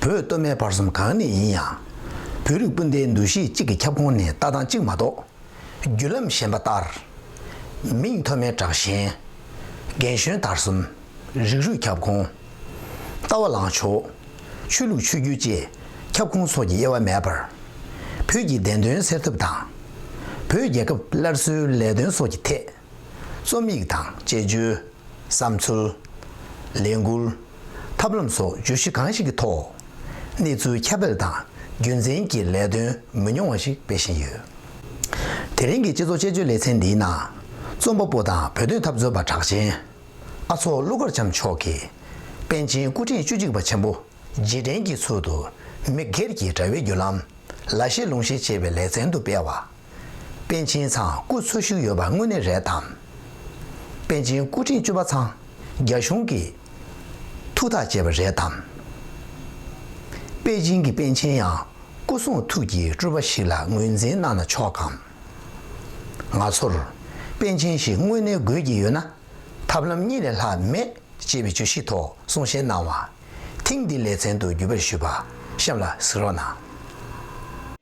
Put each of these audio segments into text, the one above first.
བོད་སྟོད་སྨད་བར་གསུམ་གང་ནས་ཡིན་ཡང། བོད་རིགས་སྤུན་ཟླའི་འདུ་ཤེས་གཅིག་གི་ཁྱབ་ཁོངས་ནས་ལྟ་སྟངས་གཅིག་མ་གཏོགས། བརྒྱུད་ལམ་གཞན་པ་ལྟར། མིང་ཐོ་མའི་དྲག་ཞན། རྒན་གཞོན་དར་གསུམ། རིགས་རུས་ཁྱབ་ཁོངས། ལྟ་བ་ལངས་ཕྱོགས། ཆོས་ལུགས་ཆོས་བརྒྱུད་བཅས་ཁྱབ་ཁོངས་སོགས་ཀྱི་དབྱེ་བ་མེད་པར། བོད་ཀྱི་བདེན་དོན་སེལ་ཐབས་དང། བོད་རྒྱལ་ཁབ་སླར་གསོའི་ལས་དོན་སོགས་ཀྱི་ཐད། རྩོམ་ཡིག་དང་དཔྱད་བརྗོད། བསམ་ཚུལ། ལས་འགུལ། ཐབས་ལམ་སོགས་བརྗོད་གཞི་གང་ཞིག་གི་ཐོག་གནས་ཚུལ་ཁྱབ་སྤེལ་དང་རྒྱུན་འཛིན་གྱི་ལས་དོན་མི་ཉུང་བ་ཞིག་སྤེལ་བཞིན་ཡོད། དེ་རིང་གི་སྤྱི་ཚོགས་དཔྱད་བརྗོད་ལེ་ཚན་འདིའི་ནང་རྩོམ་པ་པོ་དང་བོད་དོན་འཐབ་རྩོད་པ་གྲགས་ཅན་ཨ་ཚོགས་ཀླུ་མཁར་བྱམས་མཆོག་གིས་པཎ་ཆེན་སྐུ་ཕྲེང་བཅུ་གཅིག་པ་ཆེན་པོ་རྗེས་དྲན་གྱི་ཚུལ་དུ་མི་སྒེར་གྱི་དྲ་བའི་བརྒྱུད་ལམ་ལ་བཤད་ལུང་བཤད་ཅེས་པའི་ལེ་ཚན་དུ་སྤེལ་བ། པཎ་ཆེན་ཚང་སྐུ་འཚོ་བཞུགས་ཡོད་པ་དངོས་གནས་རེད་དམ། པཎ་ཆེན་སྐུ་ཕྲེང་བཅུ་པ་ཚང་རྒྱ་གཞུང་གིས་ཐུགས་ཐག་བཅད་པ་རེད་དམ། པེ་ཅིང་གི་པཎ་ཆེན་ཡང་སྐུ་གསུང་ཐུགས་ཀྱི་སྤྲུལ་པ་ཞིག་ལ་ངོས་འཛིན་གནང་ན་ཆོག་གམ། ང་ཚོར་པཎ་ཆེན་ཞིག་དངོས་གནས་དགོས་ཀྱི་ཡོད་ན་ཐབས་ལམ་གཉིས་ལས་ལྷག་མེད་ཅེས་པའི་བརྗོད་གཞི་ཐོག་གསུང་བཤད་གནང་བ་ཐེངས་འདིའི་ལེ་ཚན་དུ་བརྒྱུད་པར་ཞུས་པ་གཤམ་ལ་གཟིགས་རོགས་གནང།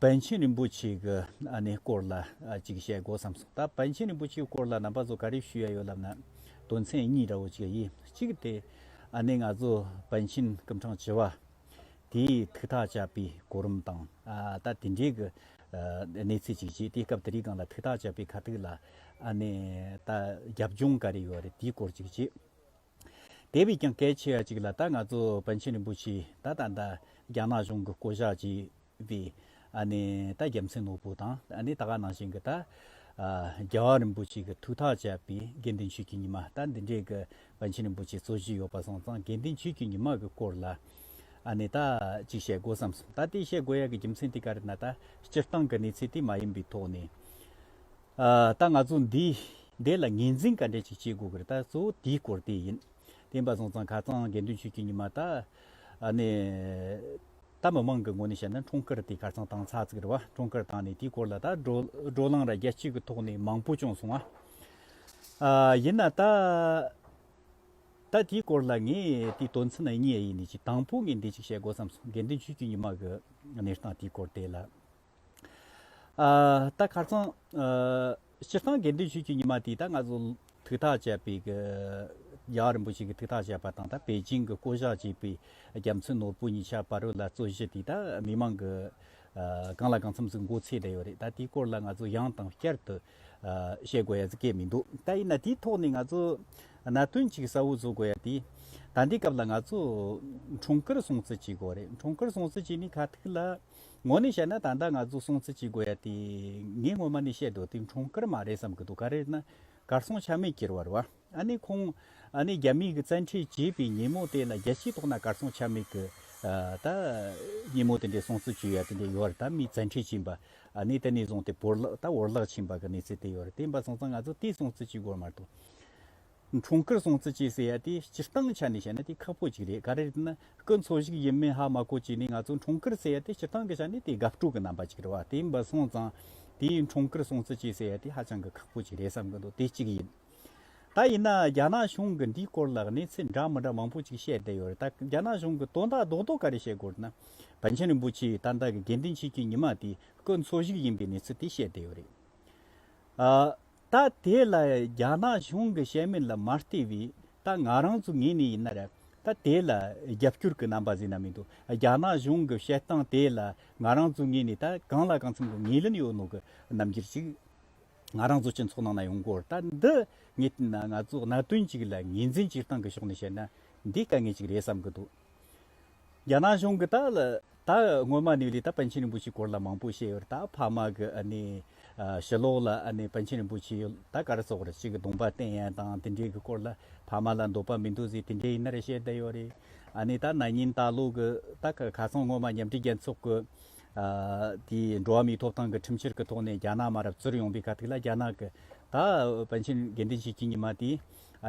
པཎ་ཆེན་རིན་པོ་ཆེ་གི་ཨ་ནེའི་སྐོར་ལ་ཅིག་བཤད་དགོས་བསམ་སོང། ད་པཎ་ཆེན་རིན་པོ་ཆེའི་སྐོར་ལ་ནང་པ་ཚོ་ག་རེ་ཞུ་ཡ་ཡོད་ལབ་ན། དོན་ཚན་གཉིས་འདྲ་བོ་ཅིག་ཡིན། གཅིག་གི་དེ་ཨ་ནེ་ང་ཚོ་པཎ་ཆེན་སྐུ་འཕྲང་བྱེ་བ་དེའི་ཐུགས་ཐག་བཅད་པའི་གོ་རིམ་དང། ད་དེ་འདྲའི་གི་གནས་ཚུལ་ཅིག་བྱས་ཏེ་སྐབས་དེ་རིང་གང་ལ་ཐུགས་ཐག་བཅད་པའི་ཁ་ཐུག་ལ་ཨ་ནེ་ད་རྒྱབ་ལྗོངས་ག་རེ་ཡོད་རེད་དེའི་སྐོར་ཅིག་བྱས། དེ་བས་ཀྱང་གལ་ཆེ་བ་གཅིག་ལ་ད་ང་ཚོ་བོན་ཆེན་རིན་པོ་ཆེ་ད་ད་ད་རྒྱ་ནག་གཞུང་གི་བསྐོ་བཞག་བྱས་པའི་ད་རྒྱལ་མཚན་ནོར་བུ་དང་ད་ག་ནང་བཞིན་གྱི་ད་རྒྱལ་བ་རིན་པོ་ཆེ་གྱི་ཐུགས་ཐག་བཅད་པའི་དགེ་འདུན་ཆོས་ཀྱི་ཉི་མ་ད་འདི་འདྲའི་གི་བོན་ཆེན་རིན་པོ་ཆེ་གཙོ་བཞེས་ཡོད་པ་སོང་ཙང་དགེ་འདུན་ཆོས་ཀྱི་ཉི་མ་གྱི་སྐོར་ལ་ད་ཅིག་བཤད་དགོས་བསམ་སོང་ད་དེ་བཤད་དགོས་ཡ་གྱི་རྒྱུ་མཚན་དེ་ག་རེ་ན་ད་སྤྱིར་བཏང་གི་གནས་ཚུལ་དེ་མ་ཡིན་པའི་ཐོག་ནས། ད་ང་ཚོ་འདི་འདི་ལ་ངེས་འཛིན་ག་འདྲ་ཞིག་བྱེད་དགོས་ཀྱི་རེད་ད་གཙོ་བོ་དེའི་སྐོར་དེ་ཡིན། བསྟན་པ་བཟང་ཚང་ཁ་ཚང་དགེ་འདུན་ཆོས་ཀྱི་ཉི་མ་དང། ནས། ད་མི་མང་གི་ངོ་ནས་བཤད་ན་འཁྲུངས་སྐར་དེ་གར་ཚང་བཏང་ཚར་ཚིག་རེད་བ་འཁྲུངས་སྐར་བཏང་ནས་དེའི་སྐོར་ལ་ད་བགྲོ་གླང་ར་རྒྱ་གཅིག་གི་ཐོག་ནས་མང་པོ་བྱུང་སོང་ང། ཡིན་ན་ད། ད་དེའི་སྐོར་ལ་ངས་དེའི་དོན་ཚན་གཉིས་ཡིན་ནི་གཅིག་དང་པོ་ངས་འདི་གཅིག་བཤད་དགོས་བསམ་སོང་དགེ་འདུན་ཆོས་ཀྱི་ཉི་མ་གི་གནས་སྟངས་དེའི་སྐོར་དེ་ལ། ད་གར་ཚང་སྤྱིར་བཏང་དགེ་འདུན་ཆོས་བརྒྱུད་ཉི་མ་དེ་ད་ང་ཚོ་ཐུགས་ཐག་བཅད་པའི་རྒྱ་གར་རིན་པོ་ཆེ་གི་ཐུགས་ཐག་བཅད་པ་དང་ད་པེ་ཅིང་གི་བསྐོ་བཞག་བྱས་པའི་རྒྱ་མཚོའི་ནོར་བུ་ཉི་ཤར་བ་རུ་ལ་རྩོད་གཞི་དེ་ད་མི་མང་གི་གང་ལ་གང་འཚམས་སུ་མགོ་ཚོས་བསྡད་ཡོད་རེད་ད་དེའི་སྐོར་ལ་ང་ཚོ་ཡང་དང་བསྐྱར་དུ་བཤད་དགོས་ཡ་ཚི་སྐད་མི་འདུག་ད་ཡིན་ན་དེའི་ཐོག་ནས་ང་ཚོ་གནད་དོན་གཅིག་གསལ་བོ་བཟོ་དགོས་ཡ་དེ་ད་ལྟའི་སྐབས་ལ་ང་ཚོ་གྲོང་ཁུལ་སྲུང་བརྩི་བྱེད་དགོས་རེད་གྲོང་ཁུལ་སྲུང་བརྩི་བྱས་ནས་ཁ་ཐུག་ལ། ངོ་ནས་བཤད་ན་ད་ལྟ་ང་ཚོ་སྲོང་བཙན་གྱི་དགོས་ཡ་དེ་ངས་སྔོན་མ་ནས་བཤད་འདུག་དེ་འཁྲུངས་སྐར་མ་རེད་བསམ་གྱི་འདུག་ག་རེད་ན་གར་སོང་ཆ་མེད་གྱིར་བར་བ་ཨ་ནི་ཁོང་ཨ་ནི་རྒྱ་མིས་གི་བཙན་ཁྲིད་བྱས་པའི་ཉིན་མོ་དེ་ན་རྒྱལ་སྤྱིའི་ཐོག་ན་གར་སོང་ཆ་མེད་གི་ད་ཉིན་མོ་དེ་འདྲའི་སྲོང་བཙན་གྱི་ཡ་དེ་འདྲའི་ཡོད་བར་ད་མིས་བཙན་ཁྲིད་བྱིན་པ་ཨ་ནི་དེ་ནས་བཟུང་དེ་བོར་བརླག་ད་བོར་བརླག་བྱིན་པ་གི་གནས་ཚུལ་དེ་ཡོད་རེད་དེ་འབའ་སོང་ཙང་ང་ཚོ་དེའི་སྲོང་བཙན་གྱི་དགོས་མ་རེད་དོ། གྲོང་ཁུལ་སྲོང་བཙན་བཅས་ཟེར་ཡ་དེ་སྤྱིར་བཏང་ཆ་ནས་བཤད་ན་དེ་ཁག་པོ་ཅིག་རེད་ག་རེ་ཡིན་ན་སྐུ་འཚོ་ཞིག་ཡིན་མིན་ཧ་མ་གོ་གཅིག་ནི་ང་ཚོ་གྲོང་ཁུལ་ཟེར་ཡ་དེ་སྤྱིར་བཏང་གི་ཆ་ནས་དེ་དགའ་སྤྲོ་གི་རྣམ་པ་ཅིག་རེད་བ་དེ་ཡིན་པ་སོང་ཙང་དེ་གྲོང་ཁུལ་སྲོང་བཙན་བཅས་ཟེར་ཡ་དེ་ཧ་ཅང་གི་ཁག་པོ་ཅིག་རེད་བསམ་གི་འདུག་དེ་གཅིག་ཡིན། ད་ཡིན་ན་རྒྱ་ནག་གཞུང་གི་འདིའི་སྐོར་ལ་གནས་ཚུལ་འདྲ་མི་འདྲ་མང་པོ་ཅིག་བཤད་བསྡད་ཡོད་རེད་ད་རྒྱ་ནག་གཞུང་གི་དོན་དག་རྡོག་རྡོག་ག་རེ་བཤད་དགོས་ན་བན་ཆེན་རིན་པོ་ཆེའི་ད་ལྟ་གི་དགེ་འདུན་ཆོས་སྐྱིད་ཉི་མ་དེ་སྐུ་འཚོ་ཞིག་ཡིན་པའི་གནས་ཚུལ་དེ་བཤད་བསྡད་ཡོད་རེད། ད་དེ་ལ་རྒྱ་ནག་གཞུང་གི་བཤད་མིན་ལ་མ་བལྟས་པའི་ད་ང་རང་ཚོ་ངེས་ནས་ཡིན་ན་རེད་ད་དེ་ལ་རྒྱབ་སྐྱོར་གི་རྣམ་པ་བཟོས་ན་མི་འདུག་རྒྱ་ནག་གཞུང་གི་བཤད་སྟངས་དེ་ལ་ང་རང་ཚོ་ངེས་ནས་ད་གང་ལ་གང་འཚམ་གྱི་ངེས་ལུན་ཡོད་ནོ་གི་རྣམ་འགྱུར་ཅིག་ང་རང་ཚོ་སྤྱི་ཚོགས་ནང་ན་ཡོང་སྐོར་ད་འདི་ངེས་ན་ང་ཚོ་གནད་དོན་ཅིག་ལ་ངེས་འཛིན་སྤྱིར་བཏང་གི་ཕྱོགས་ནས་བཤད་ན་འདི་དཀའ་ངལ་ཅིག་རེད་བསམ་གྱི་འདུག། རྒྱ་ནག་གཞུང་གིས་ད་ད་སྔོན་མ་ནས་ལི་ཏཱ་པཎ་ཆེན་རིན་པོ་ཆེའི་སྐོར་ལ་མང་པོ་བཤད་ཡོད་རེད་ད་ཕ་མ་གི་ཞི་ལོག་ལ་པཎ་ཆེན་རིན་པོ་ཆེ་ད་ག་རེ་སོགས་རེད་ཅིག་གདོང་པ་བསྟན་ཡན་དང་དེ་འདྲའི་གི་སྐོར་ལ་ཕ་མ་ལ་འདོད་པ་མི་འདུག་ཟེར་དེ་འདྲའི་ཡིན་ན་རེ་བཤད་བསྡད་ཡོད་རེད། ད་ན་ཉིན་ད་ལོ་གི་ད་ག་ག་སོང་སྔོན་མ་མཉམ་འབྲེལ་རྒྱལ་ཚོགས་གི་དེའི་འགྲོ་བ་མིའི་ཐོབ་ཐང་གི་ཁྲིམས་ཕྱིར་གི་ཐོག་ནས་རྒྱ་ནག་མ་རབས་བཙུར་ཡོང་པའི་ག་དུས་ལ་རྒྱ་ནག་གི་ད་པཎ་ཆེན་དགེ་འདུན་ཆོས་ཀྱི་ཉི་མ་དེའི་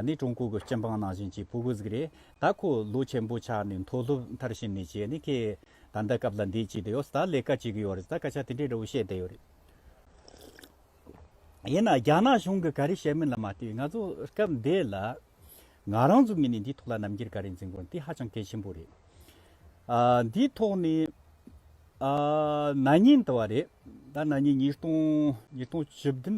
ནི་ཀྲུང་གོ་གི་སྤྱི་འབངས་ནང་བཞིན་གྱི་ཕོ་རྒོད་ཟིག་རེད་ད་ཁོ་ལོ་ཆེན་པོ་ཆགས་ནས་མཐོ་སློབ་མཐར་ཕྱིན་ནས་བྱས་ནས་ཁྱེད་ད་ལྟ་སྐབས་ལ་འདས་ཀྱི་བསྡད་ཡོད་ད་ལས་ཀ་བྱེད་གི་ཡོད་རེད་ད་སྐད་ཆ་དེ་འདྲའི་འདྲ་བོ་བཤད་བསྡད་ཡོད་རེད། ཡིན་ན་རྒྱ་ནག་གཞུང་གི་ག་རེ་བཤད་མིན་ལ་མ་ལྟོས་ང་ཚོ་སྐབས་འདས་ལ་ང་རང་ཚོ་མི་ནས་འདིའི་ཐོག་ལ་རྣམ་འགྱུར་ག་རེ་འཛིན་དགོས་དེ་ཧ་ཅང་གལ་ཆེན་པོ་རེད། འདིའི་ཐོག་ནས་ནག་ཉེས་འདི་བ་རེད་ད་ནག་ཉེས་ཉིས་སྟོང་ཉིས་སྟོང་བཅུ་བདུན་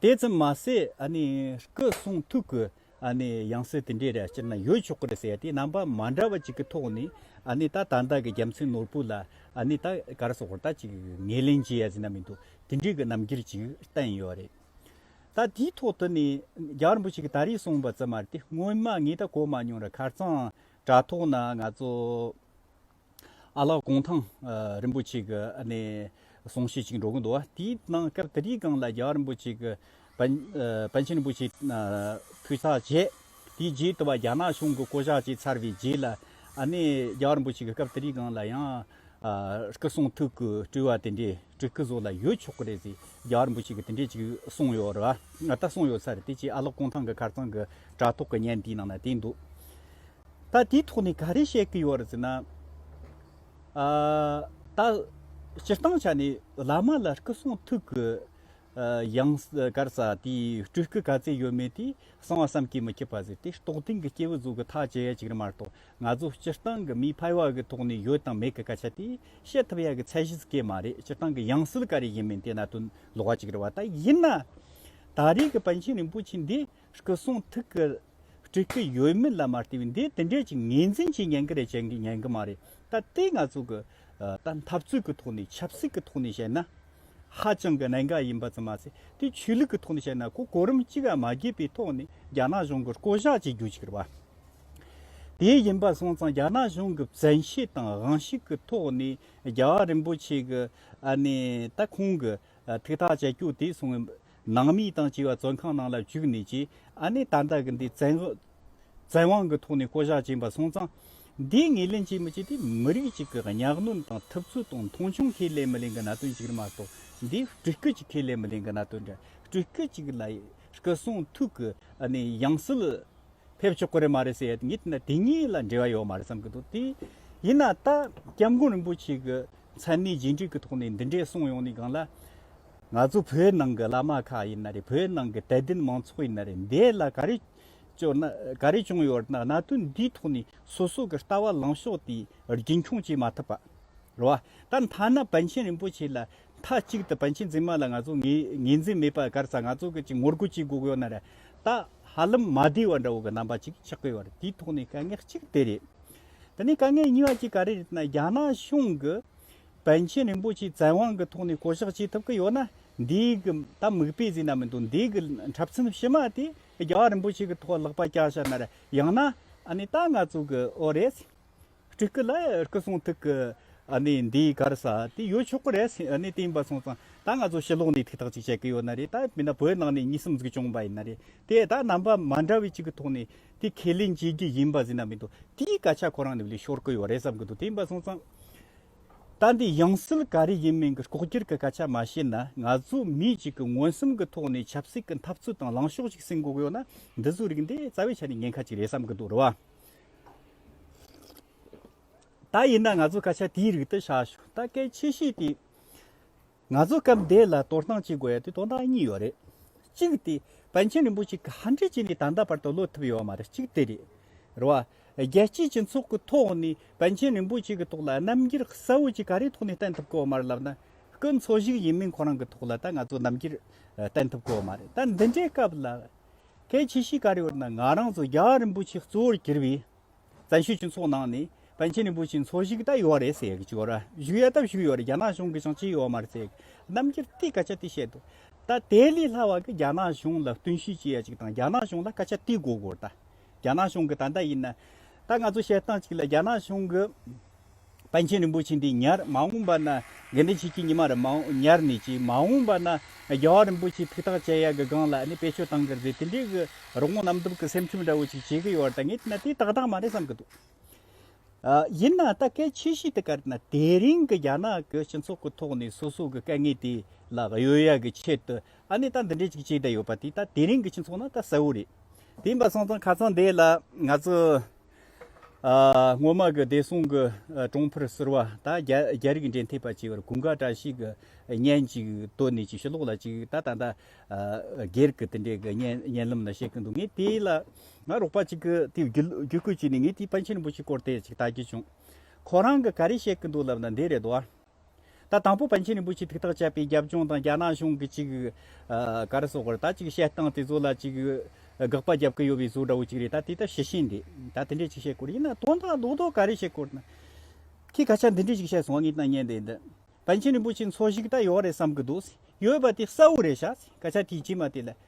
དེའི་ཚེ་མ་ཟད་སྐུ་གསུང་ཐུགས་ཀྱི་ཡང་སྲིད་དེ་འདྲའི་སྤྱིར་ན་ཡོད་ཆོག་གི་རེད་ཟེར་ཏེ་རྣམ་པ་མ་འདྲ་བ་ཅིག་གི་ཐོག་ནས་ད་དར་མདའ་གི་རྒྱལ་མཚན་ནོར་བུ་ལ་ད་གར་སོགས་ད་ཅིག་ངེས་ལེན་བྱེད་ཡ་ཟིན་ན་མི་འདུག་དེ་འདྲའི་གི་རྣམ་འགྱུར་ཅིག་བསྟན་ཡོད་རེད། ད་དེའི་ཐོག་ཏུ་ནས་རྒྱ་གར་བོ་ཅིག་ད་རེས་གསུངས་པ་ཙམ་མ་རེད་དེ་སྔོན་མ་ངས་ད་གོ་མ་མྱོང་ར་ཁར་གཙང་སྦྲ་ཐོག་ན་ང་ཚོ། ཨ་ལགས་ཀོང་ཐང་རིན་པོ་ཆེ་གི་གསུང་བཤད་ཅིག་འགྲོ་གི་འདུག་དེའི་ནང་སྐབས་དེ་དུས་སྒང་ལ་རྒྱ་གར་རིན་པོ་ཆེ་གི་པཎ་ཆེན་རིན་པོ་ཆེ་འཕུད་ས་བྱས། དེའི་རྗེས་དུ་བ་རྒྱ་ནག་གཞུང་གི་བསྐོ་བཞག་བྱས་ཚར་བའི་རྗེས་ལ་རྒྱ་གར་རིན་པོ་ཆེ་གི་སྐབས་དེ་དུས་སྒང་ལ་ཡང་སྐུ་གསུང་ཐུགས་ཀྱི་སྤྲུལ་བ་དེ་འདྲའི་སྤྲུལ་སྐུ་བཟོ་ལ་ཡོད་ཆོག་གི་རེད་ཟེར་རྒྱ་གར་རིན་པོ་ཆེ་གི་དེ་འདྲས་ཅིག་གསུངས་ཡོད་རེད་བ། ད་གསུངས་ཡོད་ས་རེད་དེ་ཅིག་ཨ་ལགས་ཀོང་ཐང་གི་ཁར་ཚང་གི་དྲ་ཐོག་གི་བརྙན་དེའི་ནང་ན་བལྟས་འདུག། ད་དེའི་ཐོག་ནས་ག་རེ་བཤད་ཀྱི་ཡོད་རེད་ཟེར་ན། ད་སྤྱིར་བཏང་ཆ་ནས་བླ་མ་ལ་སྐུ་གསུང་ཐུགས་ཀྱི་ཡང་སྐར་ས་དེའི་སྤྲུལ་སྐུ་ག་ཚད་ཡོད་མེད་དེ་གསང་བ་བསམ་གྱིས་མི་ཁྱབ་པ་ཟེར་ཏེ་རྟོགས་ལྡན་གྱི་སྐྱེས་བུ་གཟུགས་ཀྱི་ཐག་བཅད་ཡ་གཅིག་རེད་མ་གཏོགས་ང་ཚོ་སྤྱིར་བཏང་གི་མིའི་ཕལ་བ་གི་ཐོག་ནས་ཡོད་དང་མེད་ཀྱི་སྐད་ཆ་དེ་བཤད་ཐུབ་ཡ་གི་ཚད་གཞི་སྐད་མ་རེད་སྤྱིར་བཏང་གི་ཡང་སྲིད་ག་རེ་ཡིན་མིན་དེ་ན་དོན་ལོག་གཅིག་རེད་བ་ད་ཡིན་ན། ད་རེས་ཀྱི་པཎ་ཆེན་རིན་པོ་ཆེ་འདི་སྐུ་གསུང་ཐུགས་ཀྱི། འགྲིག་གི་ཡོད་མི་ལ་མ་ལྟོས་འདི་དེ་འདྲས་ཀྱི་ངེས་འཛིན་ཞིག་ཉན་གི་རེད་བྱེད་ངེས་ཉན་གི་མ་རེད་ད་ལྟའི་ང་ཚོ་གི་ད་འཐབ་རྩོད་ཀྱི་ཐོག་ནས་ཆབ་སྲིད་ཀྱི་ཐོག་ནས་བཤད་ན་ཧ་ཅང་གི་གནད་འགག་ཡིན་པ་ཙམ་མ་ཟད་དེ་ཆོས་ལུགས་ཀྱི་ཐོག་ནས་བཤད་ན་གོ་གོ་རིམ་གཅིག་ལ་མ་བརྒལ་པའི་ཐོག་ནས་རྒྱ་ནག་གཞུང་གི་བསྐོ་བཞག་བྱེད་རྒྱུ་ཞིག་རེད་བ། དེ་ཡིན་པ་སོང་ཙང་རྒྱ་ནག་གཞུང་གི་བཙན་ཤེད་དང་དབང་ཤེད་ཀྱི་ཐོག་ནས་རྒྱལ་བ་རིན་པོ་ཆེ་གི་ཨ་ནེ་ད་ཁོང་གི་ཐིག་ཐག་བཅད་རྒྱུ་དེ་སོང་ནང་མི་དང་བཅས་པ་བཙོན་ཁང་ནང་ལ་བཅུག་ནས་ཀྱི་ཨ་ནེ་ད་ལྟ་གི་འདི་བཙན་དབང་གི་ཐོག་ནས་བསྐོ་བཞག་བྱིན་པ་སོང་ཙང། འདིའི་ངེས་ལེན་བྱེད་མི་བྱེད་དེ་མི་རིགས་གཅིག་གི་གཉའ་གནོན་དང་ཐུབ་ཚོད་དང་མཐོང་ཆུང་ཁས་ལེན་མི་ལེན་གི་གནད་དོན་གཅིག་རེད་མ་གཏོགས་འདི་སྤྲུལ་སྐུ་གཅིག་ཁས་ལེན་མི་ལེན་གི་གནད་དོན་རེད་སྤྲུལ་སྐུ་གཅིག་ལ་སྐུ་གསུང་ཐུགས་ཀྱི་ཨ་ནེ་ཡང་སྲིད་ཕེབས་ཆོག་གི་རེད་མ་རེད་ཟེར་ཡ་ངས་དེ་གཉིས་ལ་འབྲེལ་བ་ཡོད་མ་རེད་བསམ་གི་འདུག་དེ་ཡིན་ན་ད་སྐྱབས་མགོན་རིན་པོ་ཆེ་གི་མཚན་གནས་རྗེས་འབྲེལ་གི་ཐོག་ནས་འདི་འདྲས་གསུངས་ཡོང་ནས་གང་ལ། ང་ཚོ་བོད་ནང་གི་བླ་མ་ཁག་ཡིན་ན་རེད་བོད་ནང་གི་དད་ལྡན་མང་ཚོགས་ཡིན་ན་རེད་འདས་ལ་ག་རེ་བྱུང་ན་ག་རེ་བྱུང་ཡོད་ན་གནའ་དོན་འདིའི་ཐོག་ནས་སོ་སོ་གི་ལྟ་བ་ལངས་ཕྱོགས་དེ་རྒྱུན་འཁྱོངས་བྱེད་མ་ཐུབ་པ་རེད་ད་མཐའ་ན་བན་ཆེན་རིན་པོ་ཆེ་ལ་མཐའ་གཅིག་ཏུ་བན་ཆེན་འཛིན་མ་ལ་ང་ཚོ་ངེས་འཛིན་མེད་པ་གར་ས་ང་ཚོ་གི་ཅིག་ངོ་རྒོལ་བྱེད་དགོས་ཡོད་ན་རེད་ད་ཧ་ལམ་མ་བདེ་བ་འདྲ་བོ་གི་རྣམ་པ་ཅིག་ཆགས་ཀྱི་ཡོད་རེད་དེའི་ཐོག་ནས་དཀའ་ངལ་གཅིག་དེ་རེད་དེ་ནས་དཀའ་ངལ་གཉིས་པ་ཅིག་ག་རེ་རེད་ན་རྒྱ་ནག་གཞུང་གི་པཎ་ཆེན་རིན་པོ་ཆེས་བཙན་དབང་གི་ཐོག་ནས་བསྐོ་གཞག་བྱེད་ཐུབ་ཀྱི་ཡོད་ན་འདིའི་གི་ད་མིག་དཔེ་ཟིན་ན་མི་འདུག་འདིའི་གི་འཁྲབ་ཚན་ཕྱི་མ་དེ་རྒྱ་གར་རིན་པོ་ཆེ་གི་ཐོག་ལག་པ་བཀྱག་བྱ་ནར་ཡང་ན་ཨ་ནི་ད་ང་ཚོ་གི་ཨོ་རེད། སྤྲུལ་སྐུ་ལ་སྐུ་སྲུང་ཐུགས་ཀྱི་ཨ་ནི་འདིའི་གར་ས་དེ་ཡོད་ཆོག་གི་རེད་ཨ་ནི་དེ་འབའ་སོང་ཙང་ད་ང་ཚོ་ཕྱི་ལོག་ནས་ཐིག་ཐག་ཅིག་བྱེད་ཀྱི་ཡོད་ན་རེད་ད་མིན་ན་བོད་ནང་ནས་གཉིས་སམ་གཟུགས་སྐྱོང་པ་ཡིན་ན་རེད་དེ་ད་རྣམ་པ་མ་འདྲ་བའི་ཅིག་གི་ཐོག་ནས་དེ་ཁས་ལེན་བྱེད་རྒྱུ་ཡིན་པ་ཟིན་ན་མི་འདུག་དེའི་སྐད་ཆ་ཁོ་རང་ནས་ལས་ཤོར་གི་ཡོད་རེད་བསམ་གྱི་འདུག་དེ་འབའ་སོང་ཙང། ད་འདི་ཡང་སྲིད་ག་རེ་ཡིན་མིན་གྱི་ལྐོག་གྱུར་གྱི་སྐད་ཆ་མ་བཤད་ན་ང་ཚོ་མི་གཅིག་གི་མངོན་སུམ་གྱི་ཐོག་ནས་ཆབ་སྲིད་ཀྱི་འཐབ་རྩོད་དང་ལངས་ཕྱོགས་ཅིག་སྲིང་འགོག་ཡོད་ན་འདི་ཚོའི་རིགས་འདི་རྩ་བའི་ཆ་ནས་ཉེན་ཁ་ཅིག་རེད་བསམ་གྱི་འདུག་རེད་བ། ད་ཡིན་ན་ང་ཚོ་སྐད་ཆ་དེའི་རིགས་དེ་བཤད་ཞོར་ད་སྐད་ཆེ་བཤད་དེ། ང་ཚོ་སྐབས་འདི་ལ་དོར་སྣང་བྱེད་དགོས་དོན་དག་གཉིས་ཡོད་རེད། གཅིག་སྟེ་པཎ་ཆེན་རིན་པོ་ཆེ་ག་འདྲས་བྱས་ནས་ད་ལྟ་བར་དུ་ལོས་ཐུབ་ཡོད་མ་རེད་གཅིག་དེ་རེད། རེད་བ། རྒྱལ་སྤྱིའི་སྤྱི་ཚོགས་ཀྱི་ཐོག་ནས་པཎ་ཆེན་རིན་པོ་ཆེ་གི་ཐོག་ལ་རྣམ་འགྱུར་གསལ་བོ་ཅིག་ག་རེའི་ཐོག་ནས་བསྟན་ཐུབ་ཀོ་མ་རེད་ལབ་ན། སྐུ་འཚོ་ཞིག་ཡིན་མིན་ཁོ་རང་གི་ཐོག་ལ་ད་ང་ཚོ་རྣམ་འགྱུར་བསྟན་ཐུབ་ཀོ་མ་རེད་ད་འདི་འདྲའི་སྐབས་ལ། གལ་ཆེ་ཞིག་ག་རེ་ཡོད་ན་ང་རང་ཚོ་རྒྱ་རིན་པོ་ཆེ་གཙོ་བོར་གྱུར་བའི་བཙན་བྱོལ་སྤྱི་ཚོགས་ནང་ནས་པཎ་ཆེན་རིན་པོ་ཆེའི་འཚོ་གཞིས་ད་ཡོད་རེད་ཟེར་གྱི་ཡོད་ར་བཞུགས་ཡོད་སྟབས་བཞུགས་ཡོད་རེད་རྒྱ་ནག་གཞུང་གིས་ཀྱང་ཅི་ཡོད་མ་རེད་ཟེར་གྱི་རྣམ་འགྱུར་དེ་སྐད་ཆ་དེ་བཤད་འདུག་ད་དེ་ལས་སླ་བ་གི་རྒྱ་ནག་གཞུང་ལ་བསྟུན་ཤུགས་བྱེད་ཡ་གཅིག་དང་རྒྱ་ནག་གཞུང་ལ་སྐད་ཆ་དེ་གོ་དགོས་ར་རྒྱ་ནག་གཞུང་གི་ད་ལྟ་ཡིན་ན་ད་ང་ཚོ་བཤད་སྟངས་གཅིག་ལ་རྒྱ་ནག་གཞུང་གི། པཎ་ཆེན་རིན་པོ་ཆེ་འདི་ཉར་མ་འོངས་པ་ན་དགེ་འདུན་ཆོས་ཀྱི་ཉི་མ་རུ་ཉར་ནས་ཀྱི་མ་འོངས་པ་ན་རྒྱལ་བ་རིན་པོ་ཆེའི་ཐུགས་ཐག་བཅད་ཡ་གི་སྒང་ལ་ནི་པེ་ཆོས་བཏང་གི་རེད་དེ་འདྲའི་གི་རོགས་དངུལ་གནམ་དུབ་གི་སེམས་ཁྲིམས་འདྲ་བོ་ཅིག་བྱེད་གི་ཡོད་རེད་ད་ངས་བལྟས་ན་དེ་ཏག་ཏག་མ་རེད་བསམ་གི་འདུག་ཡིན་ན་ད་སྐད་ཆེ་བཞི་དེ་གར་ན་དེ་རིང་གི་རྒྱ་ནག་གི་སྤྱི་ཚོགས་གི་ཐོག་ནས་སོ་སོ་གི་དཀའ་ངལ་དེ་ལ་གཡོལ་ཡ་གི་ཆེད་དུ་ཨ་ནི་ད་འདི་འདྲའི་ཅིག་བྱེད་བསྡད་ཡོད་པ་དེ་ད་དེ་རིང་གི་སྤྱི་ཚོགས་ན་ད་གསལ་བོ་རེད་དེ་ཡིན་པ་སོང་ཙང་ཁ་ཙང་འདས་ལ་ང་ཚོ། སྔོན་མ་གི་བདེ་སྲུང་གི་གྲོང་འཕེལ་ཟེར་བ་ད་རྒྱ་རིགས་འབྲེལ་མཐུད་པ་བྱས་པར་གུང་དཀར་བཀྲ་ཤིས་ཀྱི་བརྙན་ཅིག་བཏོན་ནས་ཅིག་ཤོས་ཀློག་ལ་ཅིག་ད་ད་ལྟ་སྒེར་གྱི་དེ་འདྲའི་བརྙན་ལམ་ན་བཤད་ཀྱི་འདུག་ངས་དེ་ལ་ང་རོགས་པ་ཅིག་གི་དེ་བརྒྱུད་བསྐུལ་བྱས་ནས་ངས་དེའི་པཎ་ཆེན་རིན་པོ་ཆེའི་སྐོར་དེ་ཅིག་བལྟ་རྒྱུ་བྱུང་ཁོ་རང་གི་ག་རེ་བཤད་ཀྱི་འདུག་ལབ་ན་འདི་རེད་དོ། ད་དང་པོ་པཎ་ཆེན་རིན་པོ་ཆེས་ཐུགས་ཐག་བཅད་པའི་རྒྱབ་ལྗོངས་དང་རྒྱ་ནག་གཞུང་གི་ཅིག་གར་སོགས་པར་ད་ཅིག་བཤད་སྟངས་དེ་ཚོ་ལ་ཅིག་དགག་པ་རྒྱབ་ཀི་ཡོད་པའི་བཟོ་འདྲ་བོ་ཅིག་རེད་ད་དེ་ལྟར་བྱེད་བཞིན་འདི་ད་དེ་འདྲས་ཅིག་བཤད་དགོས་རེད་ཡིན་ན་དོན་དག་ལོག་རྟོག་ག་རེ་བྱེད་དགོས་རེད་ཁྱེད་ད་ཆ་འདི་འདྲས་ཅིག་བཤད་སོང་བ་ངས་ད་ཉན་བསྡད་འདི་པཎ་ཆེན་རིན་པོ་ཆེ་འཚོ་ཞིག་ད་ཡོད་རེད་བསམ་གི་འདུག་ཡོད་པ་དེ་གསལ་བོ་རེད་བྱ་ད་ཆ་དེའི་རྗེས་མ་དེ་ལ་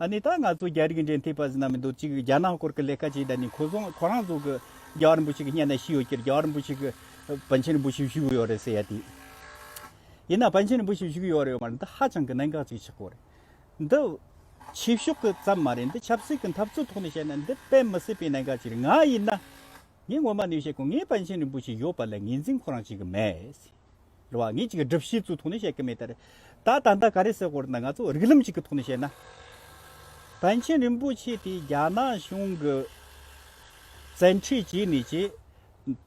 ཨ་ནི་ད་ང་ཚོ་རྒྱ་རིགས་འབྲེལ་མཐུད་པ་ཟེར་ན་མི་འདུག་གཅིག་རྒྱ་ནག་སྐོར་གི་ལས་ཀ་བྱེད་ད་ནི་ཁོ་ཚོ་ཁོ་རང་ཚོ་གི་རྒྱ་རིན་པོ་ཆེ་གི་གཉེན་ན་ཤི་ཡོད་ཁྱེར་རྒྱ་རིན་པོ་ཆེ་གི་བན་ཆེན་རིན་པོ་ཆེ་བཞུགས་གི་ཡོད་རེད་ཟེར་ཡ་དེ་ཡིན་ན་བན་ཆེན་རིན་པོ་ཆེ་བཞུགས་གི་ཡོད་རེད་ཡོད་མ་རེད་འདི་ཧ་ཅང་གི་གནད་འགག་ཅིག་ཆགས་གོ་རེད་འདི་ཆོས་ཕྱོགས་གི་ཙམ་མ་རེད་འདི་ཆབ་སྲིད་གི་འཐབ་རྩོད་ཐོག་ནས་བཤད་ན་འདི་དཔེ་མི་སྲིད་པའི་གནད་འགག་ཅིག་རེད་ང་ཡིན་ན་ངས་ངོ་མ་ནས་བཤད་གོ་ངས་བན་ཆེན་རིན་པོ་ཆེ་ཡོད་པ་ལ་ངེས་འཛིན་ཁོ་རང་བྱེད་གི་མེད། རེད་བ། ངེད་ཅིག་གིས་སྒྲུབ་བྱེད་ཚུལ་ཐོག་ནས་བཤད་ཀྱི་མེད་དེ་རེད། ད་ད་ལྟ་ག་རེ་ཟེར་སྐོར་ན་ང་ཚོས་རིགས་ལམ་ཞིག་གི་ཐོག་ནས་བཤད་ན། བན་ཆེན་རིན་པོ་ཆེ་དེ་རྒྱ་ནག་གཞུང་གི་བཙན་ཁྲིད་བྱས་ནས་ཀྱི།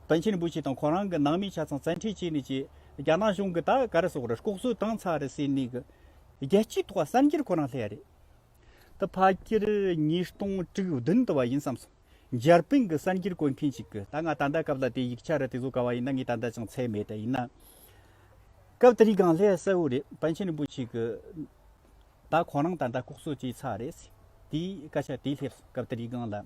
བན་ཆེན་རིན་པོ་ཆེ་དང་ཁོ་རང་གི་ནང་མི་ཆ་ཚང་བཙན་ཁྲིད་བྱས་ནས་ཀྱི། རྒྱ་ནག་གཞུང་གིས་ད་ག་རེ་ཟེར་སྐོར་རེད་ལྐོག་གསོད་བཏང་ཚར་རེད་ཟེར་ནས་ཀྱི། རྒྱལ་སྤྱིའི་ཐོག་གསར་འགྱུར་ཁོ་རང་ལྷད་རེད། ད་ཕ་ཁྱེར་ཉིས་སྟོང་དྲུག་བདུན་དུ་བ་ཡིན་བསམ་སོང། འཇར་པན་གྱི་གསར་འགྱུར་བཀོད་མཁན་ཞིག་གིས་ད་ང་ད་ལྟ་སྐབས་ལ་དེ་ཡིག་ཆ་རེ་དེ་བཟོ་དཀའ་བ་ཡིན་ན་ངས་ད་ལྟ་ཅང་ཚད་མེད་ད་ཡིན་ན། སྐབས་དེ་རིང་གང་སླད་གསལ་བོ་རེད་པཎ་ཆེན་རིན་པོ་ཆེ་གི། ད་ཁོང་རང་ད་ལྟ་ལྐོག་གསོད་བྱས་ཚར་རེད། དེའི་སྐད་ཆ་དེ་སླེབས་སོང་སྐབས་དེ་རིང་གང་ལ།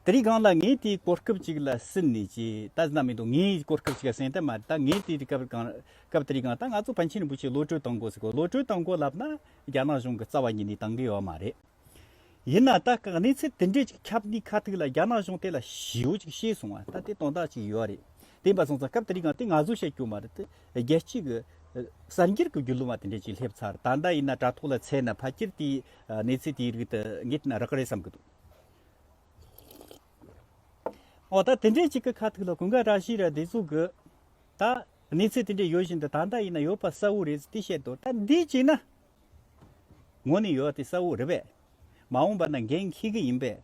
དེ་རིང་གང་ལ་ངས་དེའི་གོ་སྐབས་ཅིག་ལ་ཟིན་ནས་ཀྱི་ད་ཟིན་ན་མི་འདུག་ངས་གོ་སྐབས་ཅིག་ལ་ཟིན་ད་མ་རེད་ད་ངས་དེའི་སྐབས་གང་སྐབས་དེ་རིང་གང་ད་ང་ཚོ་བན་ཆེན་རིན་པོ་ཆེ་བློ་གྲོས་བཏང་གོ་ཟེར་གོ་བློ་གྲོས་བཏང་གོ་ལབ་ན་རྒྱ་ནག་གཞུང་གི་རྩ་བ་ཉིད་ནས་བཏང་གི་ཡོད་མ་རེད། ཡིན་ན་ད་གང་གནས་ཚུལ་དེ་འདྲས་ཅིག་ཁྱབ་ནས་ཁ་ཐུག་ལ་རྒྱ་ནག་གཞུང་དེ་ལ་ཞེའུ་ཅིག་བཤད་སོང་བ་ད་དེ་དོན་དག་ཅིག་ཡོད་རེད་དེ་འབའ་སོང་ཙང་སྐབས་དེ་རིང་གང་དེ་ང་ཚོས་བཤད་རྒྱུ་མ་རེད་དེ་རྒྱལ་སྤྱི་གི་གསར་འགྱུར་གྱི་རྒྱུད་ལུང་བ་དེ་འདྲས་ཅིག་སླེབས་ཚར་ད་ད་ཡིན་ན་དྲ་ཐོག་ལ་ཚད་ན་ཕ་ཁྱེར་དེའི་གནས་ཚུལ་དེའི་རིགས་དེ་ངེད་ཀྱིས་རག་གི་རེད་བསམ་གྱི་འདུག་འོ་ད་དེ་འདྲའི་ཅིག་གི་ཁ་ཐུག་ལ་གུང་ཁ་གྲགས་ཤིག་ར་དེ་ཚུགས་གི་ད་གནས་ཚུལ་དེ་འདྲའི་ཡོད་བཞིན་དུ་ད་ལྟ་ཡིན་ན་ཡོད་པ་གསལ་བོ་རེད་ཟེར་ཏེ་བཤད་འདུག་ད་འདི་གཅིག་ན་ངོ་ནས་ཡོད་དེ་གསལ་བོ་རེད་པས་མ་འོངས་པ་ན་འགན་འཁྱེར་གི་ཡིན་པས་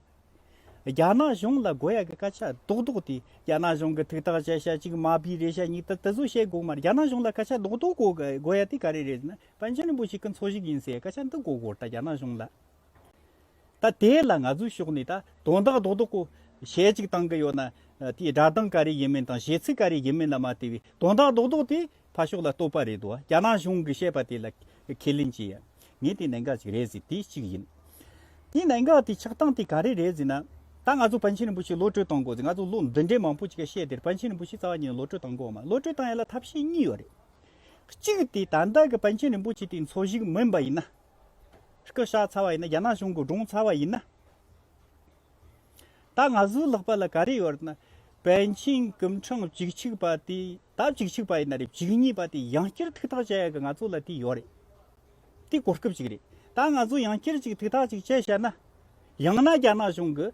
རྒྱ་ནག་གཞུང་ལ་དགོས་ཡག་གི་སྐད་ཆ་རྡོག་རྡོག་དེ་རྒྱ་ནག་གཞུང་གི་ཐུགས་ཐག་བཅད་ཤ་གཅིག་མ་པི་རེད་ཤ་གཉིས་ད་དེ་ཚོ་བཤད་དགོས་མ་རེད་རྒྱ་ནག་གཞུང་ལ་སྐད་ཆ་རྡོག་རྡོག་གོ་གི་དགོས་ཡག་དེ་ག་རེ་རེད་ཟེར་ན། པཎ་ཆེན་རིན་པོ་ཆེ་གི་འཚོ་གཞིག་ཡིན་སའི་སྐད་ཆ་འདི་མགོ་སྐོར་ད་རྒྱ་ནག་གཞུང་ལ་ད་དེ་ལ་ང་ཚོའི་ཕྱོགས་ནས་ད་དོན་དག་རྡོག་རྡོག་གཞས་ཅིག་བཏང་གི་ཡོད་ན་དེའི་སྒྲ་གདངས་ག་རེ་ཡིན་མིན་དང་གཞས་ཚིག་ག་རེ་ཡིན་མིན་ལ་མ་ལྟོས་བའི་དོན་དག་རྡོག་རྡོག་དེ་ཕ་ཕྱོགས་ལ་ལྟོས་པ་རེད་འདུག་རྒྱ་ནག་གཞུང་གི་བཤད་པ་དེ་ལ་ཁས་ལེན་བྱེད་ཡ་ངས་དེ་གནད་འགག་ཅིག་རེད་ཟེར་དེ་གཅིག་ཡིན། དེའི་གནད་འགག་དེ་ཆགས་སྟངས་དེ་ག་རེ་རེད་ཟེར་ན་ད་ང་ཚོ་པཎ་ཆེན་རིན་པོ་ཆེ་བློ་གྲོས་བཏང་དགོས་ཟེར་ང་ཚོ་ལོ་འདི་འདྲའི་མང་པོ་ཅིག་ག་བཤད་དེར་པཎ་ཆེན་རིན་པོ་ཆེ་རྩ་བ་ཉིད་ལོ་གྲོས་བཏང་དགོས་མ་བློ་གྲོས་བཏང་ཡ་ལ་ཐབས་ཤེས་གཉིས་ཡོད་རེད། གཅིག་དེ་ད་ལྟ་གི་པཎ་ཆེན་རིན་པོ་ཆེ་དེའི་འཚོ་གཞིས་མིན་པ་ཡིན་ན། སྐུ་ཞག་ཚ་བ་ཡིན་ན་རྒྱ་ནག་གཞུང་གིས་བསྒྲུངས་ཚར་བ་ཡིན་ན། ད་ང་ཚོའི་ལྷག་པ་ལ་ག་རེ་ཡོད་ན། པཎ་ཆེན་སྐུ་འཕྲེང་བཅུ་གཅིག་པ་དེ་ད་བཅུ་གཅིག་པ་ཡིན་ན་རེད་བཅུ་གཉིས་པ་དེ་ཡང་བསྐྱར་ཐུགས་ཐག་བཅད་ཡག་གི་ང་ཚོ་ལ་དེ་ཡོད་རེད། དེ་གོ་སྐབས་ཅིག་རེད། ད་ང་ཚོ་ཡང་བསྐྱར་ཅིག་ཐུགས་ཐག་ཅིག་བཅད་བྱས་ན། ཡང་ན་རྒྱ་ནག་གཞུང་གིས་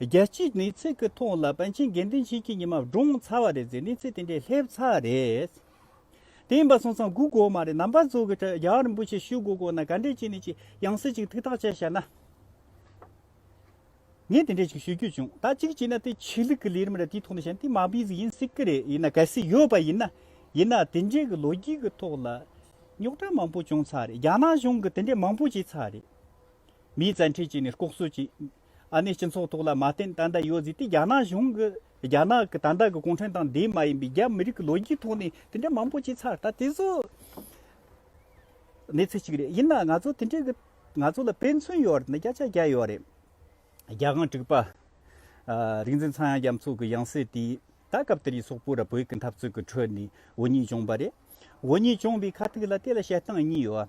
བརྒྱད་གཅིག་ནི་ཚིག་གི་ཐོག་ལ་པཎ་ཆེན་དགེ་འདུན་ཆོས་ཀྱི་ཉི་མ་བགྲུངས་ཚར་བ་རེད་ཟེར་ནས་ཚིག་དེ་འདྲས་སླེབས་ཚར་རེད། དེ་ཡིན་པ་སོང་ཙང་སྒུག་དགོས་མ་རེད་ནམ་པ་ཚོ་གིས་རྒྱ་གར་རིན་པོ་ཆེ་ཞུ་དགོས་དགོས་ན་ག་འདྲས་བྱས་ནས་ཅིག་ཡང་སྲིད་ཅིག་ཐུགས་ཐག་བཅད་བྱས་ན། ངས་དེ་འདྲས་ཅིག་ཞུ་རྒྱུ་བྱུང་ད་ཅིག་བྱས་ན་དེ་ཆོས་ལུགས་ཀྱི་ལས་རིམ་རེད་དེའི་ཐོག་ནས་བྱས་ན་དེ་མ་བུའི་ཟིག་ཡིན་སྲིད་ཀྱི་རེད་ཡིན་ན་གལ་སྲིད་ཡོད་པ་ཡིན་ན་ཡིན་ན་དེ་འདྲས་ཀྱི་ལོ་རྒྱུས་ཀྱི་ཐོག་ལ་རྙོག་དྲ་མང་པོ་བྱུང་ཚར་རེད་རྒྱ་ནག་གཞུང་གིས་དེ་འདྲས་མང་པོ་བྱས་ཚར་རེད་མིའི་བཙན་ཁྲིད་བྱས་ནས་ལྐོག་གསོད་བྱས། ཨ་ནེ་སྤྱི་ཚོགས་ཐོག་ལ་མ་བརྟེན་ཏན་ཏན་ཡོད་ཟིག་དེ་རྒྱ་ནག་གཞུང་གི་རྒྱ་ནག་གི་ཏན་ཏན་གི་གུང་ཁྲན་ཏང་དེ་མ་ཡིན་པའི་རྒྱ་མི་རིགས་ཀྱི་ལོ་རྒྱུས་ཐོག་ནས་དེ་འདྲ་མང་པོ་བྱས་ཚར་ད་དེ་ཚོ་གནས་ཚུལ་གཅིག་རེད་ཡིན་ན་ང་ཚོ་དེ་འདྲའི་གི་ང་ཚོ་ལ་ཕན་ཚུན་ཡོད་རེད་ན་སྐད་ཆ་རྒྱག་ཡོད་རེད་རྒྱ་གང་དྲུག་པ་རིག་འཛིན་ཚངས་དབྱངས་རྒྱ་མཚོ་གི་དབྱངས་གསལ་དེ་ད་སྐབས་དེར་ཡི་སོག་པོ་ར་བོད་ཀྱི་འཐབ་རྩོད་ཀྱི་ཁྲོད་ནས་འུ་གཉིས་བྱུང་པ་རེད་འུ་གཉིས་བྱུང་བའི་ཁ་ཐུག་ལ་དེ་ལ་བཤད་སྟངས་གཉིས་ཡོད་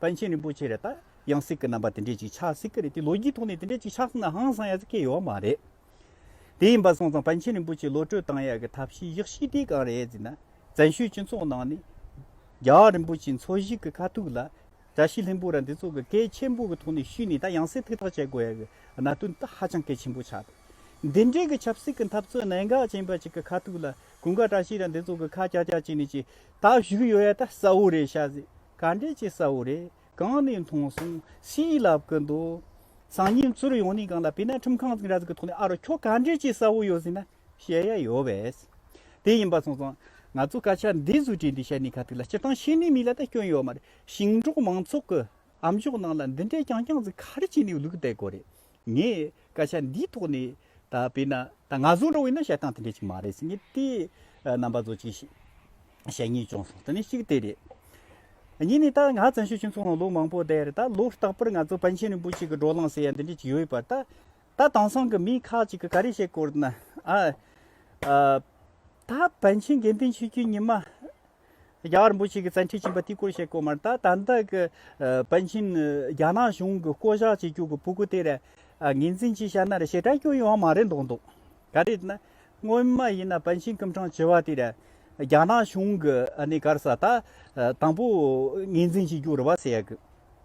པཎ་ཆེན་རིན་པོ་ཆེ་རེད་ད་ཡང་སྲིད་ཀྱི་རྣམ་པ་དེ་འདྲས་ཅིག་ཆགས་སྲིད་ཀྱི་རེད་དེ་ལོ་རྒྱུས་ཐོག་ནས་དེ་འདྲས་ཅིག་ཆགས་སྲིད་ན་ཧང་སང་ཡག་ཚ་སྐད་ཡོད་བ་མ་རེད། དེ་ཡིན་པ་སོང་ཙང་པཎ་ཆེན་རིན་པོ་ཆེ་བློ་གྲོས་བཏང་ཡག་གི་ཐབས་ཤེས་གཞག་ཤེས་དེ་གང་རེད་ཟེར་ན། བཙན་བྱོལ་སྤྱི་ཚོགས་ནང་ནས། རྒྱ་བ་རིན་པོ་ཆེ་འཚོ་བཞིག་གི་ཁ་ཐུག་ལ། བཀྲ་ཤིས་ལྷན་པོ་ར་འདི་ཚོ་གི་སྐད་ཆེན་པོ་གི་ཐོག་ནས་ཞུས་ནས་ད་ཡང་སྲིད་ཐུགས་ཐག་བཅད་དགོས་ཡག་གི་གནའ་དོན་ད་ཧ་ཅང་གལ་ཆེན་པོ་ཆགས་འདུག་འདི་འདྲས་གི་ཆབ་སྲིད་གི་འཐབ་རྩོད་གནད་འགག་ཅན་པ་ཅིག་གི་ཁ་ཐུག་ལ། གུང་དཀར་བཀྲ་ཤིས་ར་འདི་ཚོ་གི་ཁ་རྐྱག་རྐྱག་བྱས་ནས་ཅིག་ད་བཞུགས་ཡོད་ཡག་ད་གསལ་བོ་རེད་ཤ་ཟེར། ག་འདྲས་ཀྱི་ས་བོ་རེད། གང་ནས་མཐོང་སོང་ཞེས་ལབ་ཀི་འདུག་སང་ཉིན་ཚུར་ཡོང་ནས་གང་ལ་ཕེབས་ན་ཁྲིམས་ཁང་འཛིང་ར་འཛིང་གི་ཐོག་ནས་ཨ་རོ་ཁྱོད་ག་འདྲས་ཀྱི་ས་བོ་ཡོད་ཟེར་ན་བཤད་ཡ་ཡོད་བས། དེ་ཡིན་པ་སོང་སོང། ང་ཚོ་སྐད་ཆ་འདི་ཟུར་བྲིས་འདི་བཤད་ནས་ག་ཐུག་ལ་སྤྱིར་བཏང་ཤེས་ནི་མི་ལ་ད་སྐྱོན་ཡོད་མ་རེད་ཞིང་འབྲོག་མང་ཚོགས་ཀྱི་ཨ་མཆོག་ནང་ལ་འདི་འདྲས་ཀྱང་ཀྱང་ཟིག་ག་རེ་བྱས་ནས་ལུག་བསྡད་དགོས་རེད། ངས་སྐད་ཆ་འདིའི་ཐོག་ནས་ད་བོས་ན་ད་ང་བཟོ་འགྲོ་བས་ན་བཤད་སྟངས་དེ་འདྲ་ཅིག་མ་རེད་ཟེར་ངེས་དེ་རྣམ་པ་བཟོ་ཅིག་ཞེས་བཤད་ངེས་བྱུང་སོང་དེ་ནི་གཅིག་དེ་རེད། གཉིས་ནི་ད་ང་བཙན་བྱོལ་སྤྱི་ཚོགས་ནང་ལོ་མང་པོ་བསྡད་རེད་ད་ལོ་རྟག་པར་ང་ཚོ་པཎ་ཆེན་རིན་པོ་ཆེ་གི་བགྲོ་གླེང་ཟེར་ཡ་འདི་འདྲ་ཅིག་ཡོད་པ་ད་ད་དེང་སང་གི་མི་ཁག་ཅིག་གིས་ག་རེ་བཤད་སྐོར་ན་ཨ་ད་པཎ་ཆེན་དགེ་འདུན་ཆོས་རྒྱུད་ཉི་མ་རྒྱ་གར་འབུ་ཞིག་གིས་བཙན་ཁྲིད་བྱིན་པ་དེའི་སྐོར་བཤད་དགོས་མ་རེད་ད་ལྟ་གི་པཎ་ཆེན་རྒྱ་ནག་གཞུང་གི་བསྐོ་བཞག་བྱེད་རྒྱུ་གི་བུ་གུ་དེ་རེད་ངེ་འཛིན་གྱིས་བཤད་ན་རེད་ཞེ་དྲག་སྐྱོན་ཡོད་ཡང་མ་རེད་མདོག་མདོག་ག་རེད་ན་སྔོན་མ་ཡིན་ན་པཎ་ཆེན་སྐུ་འཕྲང་བྱེ་བ་དེ་རེད་རྒྱ་ནག་གཞུང་གི་གར་ས་ད་དང་པོ་ངེ་འཛིན་བྱེད་རྒྱུ་རེད་བ་སེ་ཡ་གི།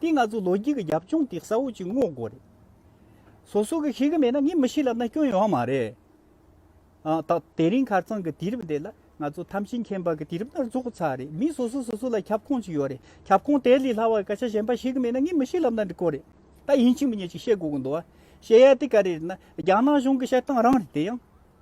དེ་ང་ཚོ་ལོ་རྒྱུས་ཀྱི་རྒྱབ་ལྗོངས་དེ་གསལ་བོ་གཅིག་བསྔོག་དགོས་རེད། སོ་སོ་གིས་ཤེས་ཀྱི་མེད་ན་ངས་མི་ཤེས་ལབ་ན་སྐྱོན་ཡོང་བ་མ་རེད། ད་དེ་རིང་ཁར་ཚང་གི་དུས་རབས་འདི་ལ་ང་ཚོ་ཐམས་ཅད་མཁྱེན་པ་གི་དུས་རབས་ལྟར་རྫོགས་ཚར་རེད། མི་སོ་སོས་སོ་སོ་ལ་ཁྱབ་ཁོངས་གཅིག་ཡོད་རེད། ཁྱབ་ཁོངས་དེ་ལས་སླ་བ་སྐད་ཆ་གཞན་པ་ཤེས་ཀྱི་མེད་ན་ངས་མི་ཤེས་ལབ་ན་འགྲིག་གོ་རེད། ད་ཡིན་གཅིག་མིན་གཅིག་བཤད་དགོས་ཀྱི་འདུག་བ། བཤད་ཡ་དེ་ག་རེ་རེད་ན་རྒྱ་ནག་གཞུང་གི་བཤད་སྟངས་རང་རེད་དེ་ཡང།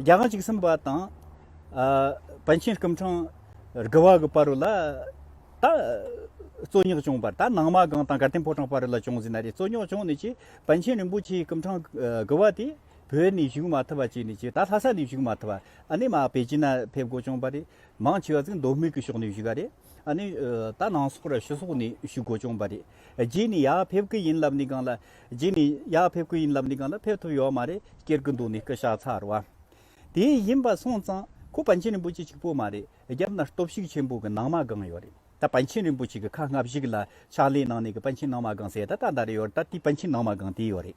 རྒྱ་གར་གཅིག་གསུམ་པ་དང། བན་ཆེན་སྐུ་འཕྲང་དགུ་བ་གི་བར་ལ། ད། རྩོད་རྙོག་བྱུང་བར་ད་ནང་མ་སྒང་དང་དགའ་ལྡན་ཕོ་བྲང་བར་ལ་བྱུང་ཟིན་ན་རེ་རྩོད་རྙོག་བྱུང་ནས་ཀྱི་བན་ཆེན་རིན་པོ་ཆེའི་སྐུ་འཕྲང་དགུ་བ་དེ་བོད་ནས་བཞུགས་མ་ཐུབ་པ་བྱས་ནས་ཀྱི་ད་ལྷ་ས་ནས་བཞུགས་མ་ཐུབ་པ་ཨ་ནེ་མ་པེ་ཅིན་ན་ཕེབས་དགོས་བྱུང་བ་རེད། མང་ཆེ་བ་ཚིག་མདོ་སྨིག་གི་ཕྱོགས་ནས་བཞུགས་ག་རེད། ཨ་ནི། ད་ནང་སོག་ར་ཤོད་སོག་ནི་ཤུ་གོ་ཅོང་པ་རེད། རྗེས་ནི་ཡག་ཕེབས་ཀི་ཡིན་ལབ་ནི་གང་ལ། རྗེས་ནི་ཡག་ཕེབས་ཀི་ཡིན་ལབ་ནི་གང་ལ་ཕེབས་ཐུབ་ཡོད་མ་རེད་སྐྱེར་གི་འདུག་ནི་སྐུ་ཤ་ཚར་བ། དེ་ཡིན་པ་སོང་ཙང་ཁོ་པཎ་ཆེན་རིན་པོ་ཆེ་གཅིག་པོ་མ་རེད་རྒྱབ་ན་སྟོབས་ཤུགས་ཆེན་པོ་གི་ནང་མ་སྒང་ཡོད་རེད་ད་པཎ་ཆེན་རིན་པོ་ཆེ་གི་ཁ་སྔ་བཞི་གི་ལ་ཕྱག་ལས་གནང་ནི་གི་པཎ་ཆེན་ནང་མ་སྒང་ཟེར་ད་ད་ད་རེད་ཡོད་རེད་ད་དེ་པཎ་ཆེན་ནང་མ་སྒང་དེ་ཡོད་རེད།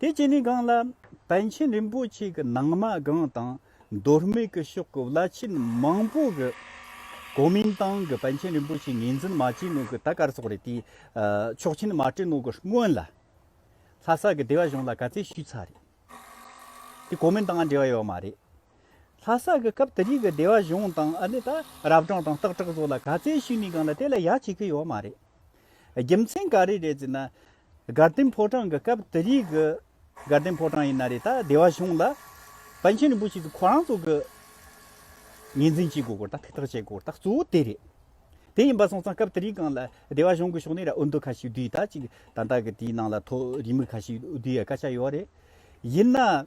དེ་བྱས་ནས་སྒང་ལ་པཎ་ཆེན་རིན་པོ་ཆེ་གི་ནང་མ་སྒང་དང་མདོ་སྨད་ཀྱི་ཕྱོགས་ཀྱི་བླ་ཆེན་མང་པོ་གི་གོ་མིན་ཏང་གི་པཎ་ཆེན་རིན་པོ་ཆེ་ངེས་འཛིན་མ་བྱས་ནོ་གི་ད་དཀར་སོག་རེད་དེ་ཆོག་མཆན་མ་སྤྲད་ནོ་གི་སྔོན་ལ་ལྷ་ས་གི་སྡེ་བ་གཞུང་ལ་ག་ཚད་ཞུས་ཚར་རེད་དེ་གོ་མིན་ཏང་འབྲེལ་བ་ཡོད་མ་རེད་ལྷ་ས་གི་སྐབས་དེ་རིགས་གི་སྡེ་བ་གཞུང་དང་ཨ་ནི་ད་རབ་གྲངས་དང་སྟག་བྲག་སོགས་ལ་ག་ཚད་ཞུས་ནས་སྒང་ལ་དེ་ལ་ཡག་བྱེད་ཀྱི་ཡོད་མ་རེད། རྒྱུ་མཚན་ག་རེ་རེད་ཟེར་ན། དགའ་ལྡན་ཕོ་བྲང་གི་སྐབས་དེ་རིགས་ཀྱི་དགའ་ལྡན་ཕོ་བྲང་ཡིན་ན་རེད་ད་སྡེ་བ་གཞུང་ལ། བན་ཆེན་རིན་པོ་ཆེ་ཚོ་ཁོ་རང་ཚོ་གི་ངེས་འཛིན་བྱེད་དགོས་སྐོར་དང་ཐུགས་ཐག་བཅད་དགོས་སྐོར་དང་གཙོ་བོ་དེ་རེད། དེ་ཡིན་པ་སོང་ཙང་སྐབས་དེ་རིགས་གང་ལ་སྡེ་བ་གཞུང་གི་ཕྱོགས་ནས་ར་འུར་འདུག་ཁ་ཤིག་བསྡུས་ད་ཅིག་ད་ལྟ་གི་དེའི་ནང་ལ་ཐོག་རིས་མི་ཁ་ཤིག་བསྡུས་ཡ་དཀའ་ཆག་ཡོད་རེད། ཡིན་ན།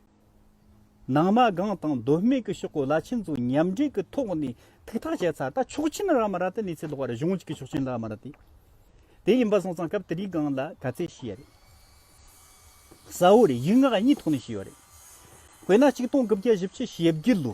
ནང་མ་སྒང་དང་མདོ་སྨད་ཀྱི་ཤོག་གོ་ལ་ཆེན་ཚོ་མཉམ་འབྲེལ་གྱི་ཐོག་ནས་ཐུགས་ཐག་བཅད་ཚར་ད་ཆོག་མཆན་རག་མ་རག་དེ་གནས་ཚད་ལོག་པ་རེད་གཞུང་གཅིག་གི་ཆོག་མཆན་རག་མ་རག་དེ་ཡིན་པ་སོང་ཙང་སྐབས་དེ་རིང་སྒང་ལ་ག་ཚད་ཤི་ཡ་རེད་ས་འོ་རེད་ཡིག་ངག་གཉིས་ཐོག་ནས་ཤི་ཡོད་རེད་དཔེར་ན་གཅིག་སྟོང་དགུ་བརྒྱ་བཞི་བཅུ་ཞེ་བརྒྱད་ལོ།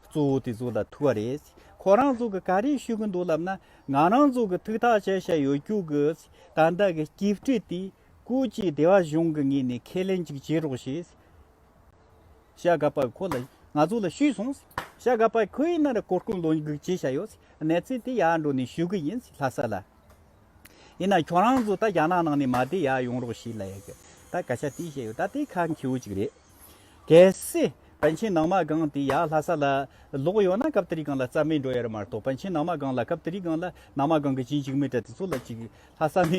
གཙོ་བོ་དེ་ཚོ་ལ་ཐུག་བ་རེད། ཁོ་རང་ཚོ་གི་ག་རེ་ཞུ་གི་འདུག་ལབ་ན་ང་རང་ཚོ་གི་ཐུག་ཐག་ཆད་ཤ་ཡོད་རྒྱུག་གི། ད་ལྟ་གི་སྐྱིད་སྤྲེལ་དེ་ཀུ་ཅི་བདེ་བ་གཞུང་གི་ངེས་ནས་ཁས་ལེན་ཅིག་བྱེད་རོགས་ཞེས། ཤ་ག་པ་ཁོ་ལ་ང་ཚོ་ལ་ཞུས་སོང། ཤ་ག་པ་ཁོས་ན་རེ་གོ་སྐོན་ལོ་འགུག་བྱེད་ཤ་ཡོད། གནས་ཚུལ་དེ་ཡར་འགྲོ་ནས་ཞུ་གི་ཡིན་ལྷ་ས་ལ། ཡིན་ན་ཁྱོད་རང་ཚོ་ད་རྒྱ་ནག་ནང་ནས་མ་བསྡད་ཡག་ཡོང་རོགས་ཞེས་ལབ་ཡོད་ད་ག་ཤ་དེ་བཤད་ཡོད་ད་དེ་ཁག་འཁེའུ་ཅིག་རེད། གལ་སྲིད་པཎ་ཆེན་ནང་མ་སྒང་དེ་ཡག་ལྷ་ས་ལ་ལོག་ཡོད་ན་སྐབས་དེ་རི་སྒང་ལ་རྩ་མེད་འགྲོ་ཡ་རེད་མ་གཏོགས་པཎ་ཆེན་ནང་མ་སྒང་ལ་སྐབས་དེ་རི་སྒང་ལ་ནང་མ་སྒང་གི་བྱིན་ཅིག་མི་དྲག་དེ་ཚོ་ལ་ཅིག་ལྷ་ས་ནས་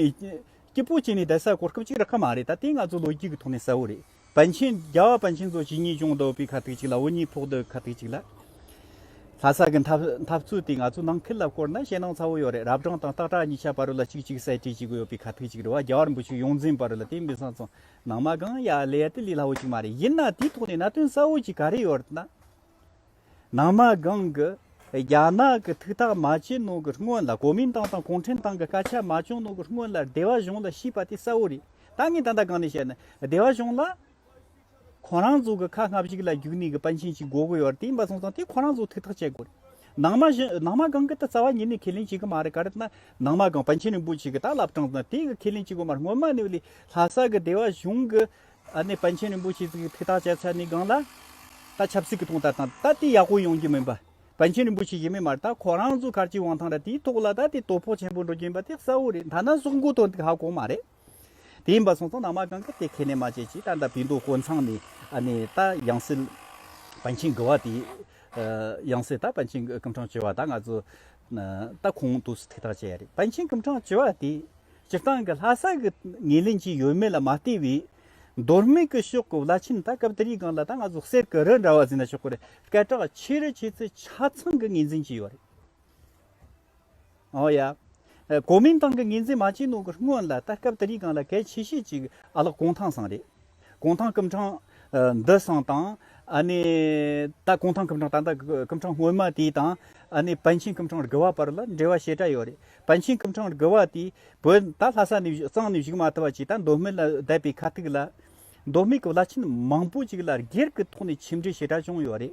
སྐྱིད་པོ་བྱས་ནས་བསྡད་ས་གོ་སྐབས་ཅིག་རག་གི་མ་རེད་ད་དེ་ང་ཚོ་ལོ་རྒྱུས་ཀྱི་ཐོག་ནས་གསལ་བོ་རེད། བན་ཆེན་རྒྱལ་བ་བན་ཆེན་གཙོ་བྱས་གཉིས་སྐྱོང་དོག་པའི་ཁ་ཐུག་ཅིག་ལ་འུ་གཉིས་ཕོག་དོག་ཁ་ཐུག་ཅིག་ལ། ལྷ་ས་ཀྱི་འཐབ་རྩོད་དེ་ང་ཚོ་ནང་ཁུལ་ལ་བསྐོར་ན་ཞེད་སྣང་ཚ་བོ་ཡོད་རེད་རབ་བགྲང་དང་སྟག་བྲག་གཉིས་ཆ་བར་རུ་ལ་ཅིག་ཅིག་གསལ་བྲིས་བྱེད་དགོས་ཡོད་པའི་ཁ་ཐུག་ཅིག་རེད་བ་རྒྱ་བར་འབུ་ཆུ་ཡོངས་འཛིན་བར་རུ་ལ་དེ་མི་ས་ཚོང་ནང་མ་གང་ཡག་ལས་དེ་ལས་སླ་བོ་ཅིག་མ་རེད་ཡིན་ན་དེའི་ཐོག་ནས་ན་དོན་གསལ་བོ་ཅིག་ག་རེ་ཡོད་རེད་ན། ནང་མ་སྒང་གི་རྒྱ་ནག་གི་ཐུགས་ཐག་མ་བཅད་ནང་གི་སྔོན་ལ་གོ་མིན་ཏང་དང་གུང་ཁྲན་ཏང་གི་སྐད་ཆ་མ་བྱུང་ནང་གི་སྔོན་ལ་སྡེ་བ་གཞུང་ལ་ཤིས་པ་དེ་གསལ་བོ་རེད་ད་ངས་ད་ལྟ་གང་ནས་བཤད་ན་སྡེ་བ་གཞུང་ལ་ཁོ་རང་ཚོ་གི་ཁ་སྔ་ཕྱུགས་ལ་རྒྱུག་ནས་གི་པཎ་ཆེན་གྱི་དགོ་དགོ་ཡོད་དེ་མ་སོང་ཙང་དེ་ཁོ་རང་ཚོ་ཐུགས་ཐག་བཅད་དགོ་རེད་ནང་མ་ནང་མ་སྒང་གི་ད་རྩ་བ་ཉིད་ནས་ཁས་ལེན་བྱེད་གི་མ་རེད་ག་རེད་ན་ནང་མ་སྒང་པཎ་ཆེན་རིན་པོ་ཆེ་གི་ད་ལབ་གྲང་ཙང་དེ་གི་ཁས་ལེན་བྱེད་དགོ་མ་རེད་སྔོན་མ་ནས་ལྷ་ས་གི་སྡེ་བ་གཞུང་གི། ཨ་ནེ་པཎ་ཆེན་རིན་པོ་ཆེས་ཚིག་གི་འཕེལ་ཐག་བཅད་ཚད་ནི་སྒང་ལ། ད་ཆབ་སྲིད་ཀྱི་ཐོག་མཐའ་དང་ད་ལྟའི་ཡག་པོ་ཡོང་རྒྱུ་མིན་པ། པཎ་ཆེན་རིན་པོ་ཆེ་ཞེས་མི་སྨྲ་ད་ཁོ་རང་ཚོ་གར་གྱི་དབང་ཐང་ར་དེའི་ཐོག་ལ་ད་ལྟའི་དོ་ཕོག་ཆེན་པོ་འགྲོ་རྒྱུ་ཡིན་པ་དེ་གསལ་བོ་རེད་མཐའ་ན་སྲོག་འགོ་ཐོན་ཐིག་ཧ་གོ་མ་རེད། དེ་ཡིན་པ་སོང་ཙང་ནང་མ་གང་གི་དེ་ཁས་ལེན་མ་བྱེད་ཅིག་ད་ད་བོད་མདོ་དཀོན་ཚང་ནས་ཨ་ནེ་ད་ཡང་སྲིད་པཎ་ཆེན་དགུ་བ་དེ་ཡང་སྲིད་ད་པཎ་ཆེན་སྐུ་ཕྲེང་བཅུ་བ་ད་ང་ཚོ་ད་ཁོང་དུ་ཐིག་ཐག་བཅད་ཡ་རེད་པཎ་ཆེན་སྐུ་ཕྲེང་བཅུ་བ་དེ། སྤྱིར་བཏང་གི་ལྷ་ས་གི་ངེས་ལེན་གྱི་ཡོད་མེད་ལ་མ་ལྟོས་པའི། མདོ་སྨད་ཀྱི་ཕྱོགས་ཀྱི་བླ་ཆེན་དག་སྐབས་དེར་ཡི་གང་ལ་ད་ང་ཟུག་གསེར་གྱི་རི་འདྲ་བ་ཟིན་ན་ཆོག་གི་རེད་སྐད་གྲགས་ཆེ་རུ་བྱེད་ཚུལ་ཆ་ཚང་གི་ངེས་འཛིན་གྱི་ཡོད་རེད། འོ་ཡ། གོ་མིན་ཏང་གི་ངེས་འཛིན་མ་བྱས་ནོ་གི་སྔོན་ལ་ད་སྐབས་དེར་ཡི་གང་ལ་གལ་ཆེ་ཤོས་ཅིག་ཨ་ལགས་གུང་ཐང་ཟང་རེད། གུང་ཐང་སྐུ་འཕྲང་འདི་སང་དང། ད་གུང་ཐང་སྐུ་འཕྲང་ད་ལྟ་སྐུ་འཕྲང་སྔོན་མ་དེ་དང། བན་ཆེན་སྐུ་འཕྲང་རྒུ་བ་བར་ལ་འབྲེལ་བ་ཞེ་དྲག་ཡོད་རེད། བན་ཆེན་སྐུ་འཕྲང་རྒུ་བ་དེ་བོད་ད་ལྷ་ས་ནས་གཙང་ནས་བཞུགས་མ་ཐུབ་པ་ཅིག་ད་མདོ་སྨད་ལ་བསྡད་པའི་ཁ་ཐུག་ལ། མདོ་སྨད་ཀྱི་བླ་ཆེན་མང་པོ་ཅིག་ལ་སྒེར་གྱི་ཐོག་ནས་ཁྱིམ་འདྲི་ཞེ་དྲག་བྱུང་ཡོད་རེད།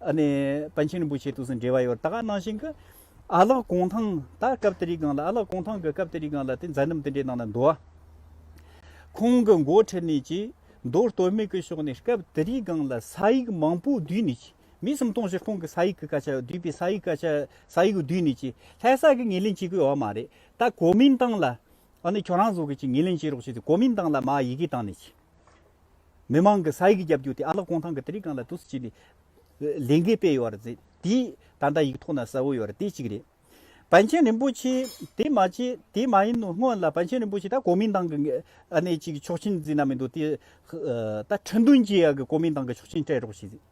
པཎ་ཆེན་རིན་པོ་ཆེ་དུས་སུ་འབྲེལ་བ་ཡོད་ད་གནང་བཞིན་གྱི། ཨ་ལགས་གུང་ཐང་ད་སྐབས་དེ་རིགས་གང་ལ་ཨ་ལགས་གུང་ཐང་གི་སྐབས་དེ་རིགས་གང་ལ་དེ་མཛའ་འདུམ་དེ་འདྲའི་ནང་ལ་འདུ་བ། ཁོང་གི་མགོ་ཁྲིད་ནས་ཀྱིས་མདོ་སྟོད་སྨད་ཀྱི་ཕྱོགས་ནས་སྐབས་དེ་རིགས་གང་ལ་ས་ཡིག་མང་པོ་བསྡུས་ནས་ཀྱིས་མི་སུམ་སྟོང་བཞི་སྟོང་གི་ས་ཡིག་གི་སྐད་ཆ་བསྡུས་པའི་ས་ཡིག་སྐད་ཆ་ས་ཡིག་བསྡུས་ནས་ཀྱིས་ལྷ་ས་གི་ངེས་ལེན་བྱེད་དགོས་ཡོད་བ་མ་རེད་ད་གོ་མིན་ཏང་ལ། ཨ་ནི་ཁྱོད་རང་ཚོ་གིས་ཀྱིས་ངེས་ལེན་བྱེད་རོགས་བྱས་ཏེ་གོ་མིན་ཏང་ལ་མ་ཡི་གེ་བཏང་ནས་ཀྱིས། མི་མང་གི་ས་ཡིག་རྒྱབ་རྒྱུག་དེ་ཨ་ལགས་ཀོང་ཐང་གི་དེ་རིགས་གང་ལ་དུས་སུ་བྱས་ནས་ལས་འགན་སྤེལ་ཡོད་རེད། དེའི་ད་ལྟ་ཡིག་ཐོག་ན་གསལ་བོ་ཡོད་རེད་དེ་གཅིག་རེད། བན་ཆེན་རིན་པོ་ཆེ་དེ་མ་བྱས་དེ་མ་ཡིན་ནོ་སྔོན་ལ་བན་ཆེན་རིན་པོ་ཆེ་ད་གོ་མིན་ཏང་གི་ཨ་ནེ་གཅིག་ཆོག་མཆན་བརྫིས་ན་མི་འདུག་དེ་ད་ཁྲི་འདོན་རྒྱས་ཡག་གི་གོ་མིན་ཏང་གི་ཆོག་མཆན་སྤྲད་རོགས་བྱས།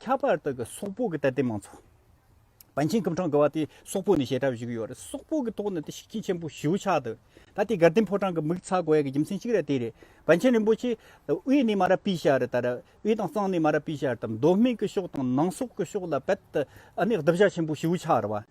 ཁྱད་པར་དག་གི་སོག་པོ་གི་ལྟ་སྟེ་མང་ཚོགས་བན་ཆེན་ཀུན་གྲངས་དགུ་བ་དེ་སོག་པོ་ནས་བྱེ་བྲག་བཞུགས་ཡོད་རེད་སོག་པོ་གི་ཐོག་ནས་དེ་ཤིག་ཁྱི་ཆེན་པོ་ཞེའུ་ཆགས་འདུག་ད་དེ་དགའ་ལྡན་ཕོ་བྲང་གི་མིག་ཚ་གོ་ཡ་གི་རྒྱུ་མཚན་གཅིག་ར་དེ་རེད་བན་ཆེན་རིན་པོ་ཆེ་དབུས་ནས་མ་ར་པི་ཤར་དར་དབུས་དང་གཙང་ནས་མ་ར་པི་ཤར་དར་མདོ་སྨད་ཀི་ཕྱོགས་དང་ནང་སོག་གི་ཕྱོགས་ལ་བད་ཨ་ནི་བདུ་བྱ་ཆེན་པོ་ཞེའུ་ཆགས་ར་བ།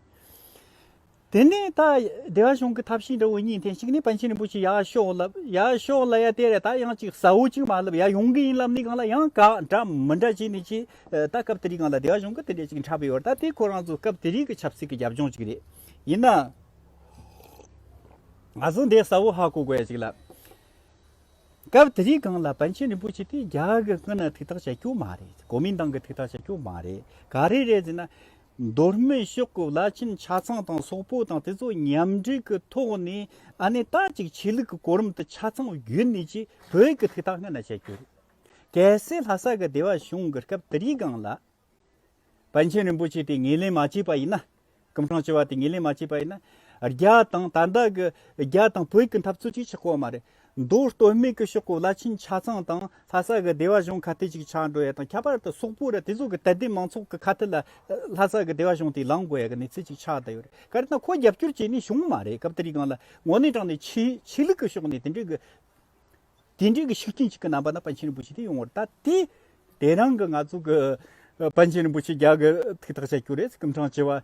དེ་ནས་ད་བདེ་བ་གཞུང་གི་ཐབས་ཤེས་འདྲ་བོ་གཉིས་འཐེན་ཞིག་ནས་པཎ་ཆེན་རིན་པོ་ཆེ་ཡག་ཤོག་བསླབ་ཡག་ཤོག་བསླབ་ཡ་དེ་རེད་ད་ཡང་ཅིག་ཟ་འོ་ཅིག་མ་བསླབ་ཡ་ཡོང་གི་ཡིན་ལབ་ནི་གང་ལ་ཡང་དགག་འདྲ་མི་འདྲ་བྱས་ནས་ཅི་ད་སྐབས་དེ་རིགས་གང་ལ་བདེ་བ་གཞུང་གི་དེ་འདྲས་ཅིག་འཁྲབ་ཡོད་ད་དེ་ཁོ་རང་ཚོ་སྐབས་དེ་རིགས་ཀྱི་ཆབ་སྲིད་ཀྱི་རྒྱབ་ལྗོངས་ཅིག་རེད་ཡིན་ན་ང་ཚོ་འདི་ཟ་འོ་ཧ་གོ་དགོས་ཡ་ཅིག་ལབ། སྐབས་དེ་རིགས་གང་ལ་པཎ་ཆེན་རིན་པོ་ཆེ་དེ་རྒྱ་གི་ཀུན་ན་ཐུགས་ཐག་བཅད་རྒྱུ་མ་རེད་གོ་མིན་ཏང་གི་ཐུགས་ཐག་བཅད་རྒྱུ་མ་རེད་ག་རེ་རེད་ཟེར་ན། མདོ་སྨད་ཤོག་གི་བླ་ཆེན་ཆ་ཚང་དང་སོག་པོ་དང་དེ་ཚོ་མཉམ་འབྲེལ་གྱི་ཐོག་ནས་ཨ་ནེ་ད་ཅིག་ཆོས་ལུགས་ཀྱི་གོ་རིམ་དུ་ཆ་ཚང་བརྒྱུད་ནས་ཀྱི་བོད་ཀྱི་ཐིག་ཐག་སྔ་ན་བྱས་རྒྱུ་རེད། གལ་སྲིད་ལྷ་ས་གི་སྡེ་བ་གཞུང་གི་སྐབས་དེ་རིའི་སྒང་ལ། པཎ་ཆེན་རིན་པོ་ཆེ་དེ་ངེས་ལེན་མ་བྱས་པ་ཡིན་ན། སྐུ་འཕྲང་བཅོལ་བ་དེ་ངེས་ལེན་མ་བྱས་པ་ཡིན་ན། རྒྱ་དང་ད་ལྟ་གི་རྒྱ་དང་བོད་ཀྱི་འཐབ་རྩོད་ཅིག་ཆགས་དགོས་མ་རེད། མདོར་བསྟོད་སྨད་ཀྱི་ཤོག་གུ་བླ་ཆེན་ཆ་ཚང་དང་ལྷ་ས་གི་སྡེ་བ་གཞུང་ཁ་གཏད་ཅིག་ཆགས་འགྲོ་ཡ་དང་ཁྱད་པར་དུ་སོག་པོ་ར་དེ་ཚོ་གི་དད་ལྡན་མང་ཚོགས་ཀྱི་ཁ་གཏད་ལ་ལྷ་ས་གི་སྡེ་བ་གཞུང་དེ་ལངས་དགོས་ཡ་གི་གནས་ཚུལ་ཅིག་ཆགས་བསྡད་ཡོད་རེད་ག་རེ་ན་ཁོ་རྒྱབ་སྐྱོར་བྱས་ནས་བྱུང་མ་རེད་སྐབས་དེ་རིགས་གང་ལ་ངོ་ནས་དྲངས་ནས་ཆེ་ཆེ་ལུགས་ཀྱི་ཕྱོགས་ནས་དེ་འདྲའི་གི་དེ་འདྲའི་གི་ཤུགས་རྐྱེན་ཅིག་གི་རྣམ་པ་ན་པཎ་ཆེན་རིན་པོ་ཆེ་དེ་ཡོང་བར་ད་དེ་དེ་རང་གི་ང་ཚོ་གི་པཎ་ཆེན་རིན་པོ་ཆེ་རྒྱ་གི་ཐུགས་ཐག་བཅད་རྒྱུ་རེད་སྐུ་འཕྲང་བྱེ་བ་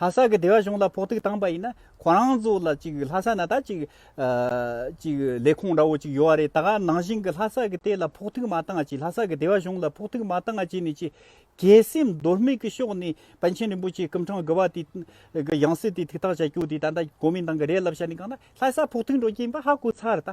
ལྷ་ས་གི་སྡེ་བ་གཞུང་ལ་ཕོག་ཐུག་བཏང་པ་ཡིན་ན་ཁོ་རང་ཚོ་ལ་གཅིག་ལྷ་ས་ན་ད་གཅིག་གཅིག་ལས་ཁུངས་འདྲ་བོ་གཅིག་ཡོད་རེད་ད་ག་ནང་བཞིན་གྱི་ལྷ་ས་གི་དེ་ལ་ཕོག་ཐུག་མ་བཏང་གཅིག་ལྷ་ས་གི་སྡེ་བ་གཞུང་ལ་ཕོག་ཐུག་མ་བཏང་གཅིག་ནི་གཅིག་གལ་སེམས་རྡོལ་མིག་གི་ཕྱོགས་ནས་པཎ་ཆེན་རིན་པོ་ཆེའི་སྐུ་འཕྲང་དགུ་བ་དེ་གི་ཡང་སྲིད་དེ་ཐིག་ཐག་བྱ་རྒྱུ་དེ་ད་ལྟ་གོ་མིན་ཏང་གི་རེད་ལབ་བྱ་ནི་གང་ལ་ལྷ་ས་ཕོག་ཐུག་འགྲོ་གྱིན་པ་ཧ་གོ་ཚར་ད།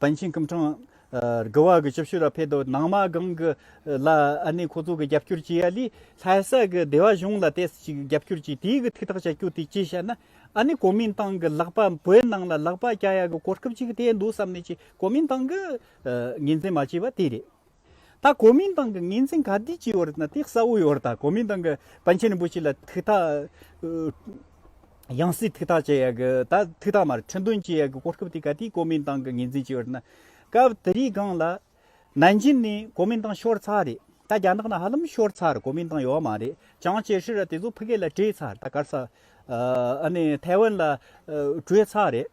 པཎ་ཆེན་སྐུ་འཕྲེང། དགུ་བ་གི་ཆུ་ཕྱུར་ལ་ཕེབས་དང་ནང་མ་སྒང་གི་ལ་ཨ་ནི་ཁོ་ཚོ་གི་རྒྱབ་སྐྱོར་བྱས་ཡ་ལི་ལྷ་ས་གི་སྡེ་བ་གཞུང་ལ་དེ་སྲིད་ཅིག་རྒྱབ་སྐྱོར་བྱས་དེའི་གི་ཐིག་ཐག་བྱ་རྒྱུ་དེ་ཅི་ཞེ་ན་ཨ་ནི་གོ་མིན་ཏང་གི་ལག་པ་བོད་ནང་ལ་ལག་པ་རྒྱག་ཡ་གི་གོ་སྐབས་ཅིག་དེ་འདུག་བསམ་ནས་ཅིག་གོ་མིན་ཏང་གི་ངེས་འཛིན་མ་བྱས་པ་དེ་རེད། ད་གོ་མིན་ཏང་གི་ངེས་འཛིན་ག་དུས་ཀྱི་ཡོད་རེད་ན་དེ་གསལ་བོ་ཡོད་རེད་ད་གོ་མིན་ཏང་གི་པཎ་ཆེན་རིན་པོ་ཆེ་ལ་ཐུགས་ཐག་ཡང་སྲིད་ཐུགས་ཐག་བཅད་ཡག་གི་ད་ཐུགས་ཐག་མ་རེད་ཁྲི་འདོན་བྱེད་ཡག་གི་གོ་སྐབས་དེ་ག་དུས་གོ་མིན་ཏང་གི་ངེས་འཛིན་ཀྱི་ཡོད་རེད་ན་སྐབས་དེ་རིའི་སྒང་ལ་ནན་ཅིན་ནས་གོ་མིན་ཏང་ཤོར་ཚར་རེད་ད་རྒྱ་ནག་ནང་ཧ་ལམ་ཤོར་ཚར་རེད་གོ་མིན་ཏང་ཡོད་མ་རེད་ཅང་ཅེ་ཧྲི་ར་དེ་ཚོ་ཕི་ཀེ་ལ་བྲོས་ཚར་ད་གར་ས་ཨ་ནི་ཐའེ་ཝན་ལ་བྲོས་ཚར་རེད།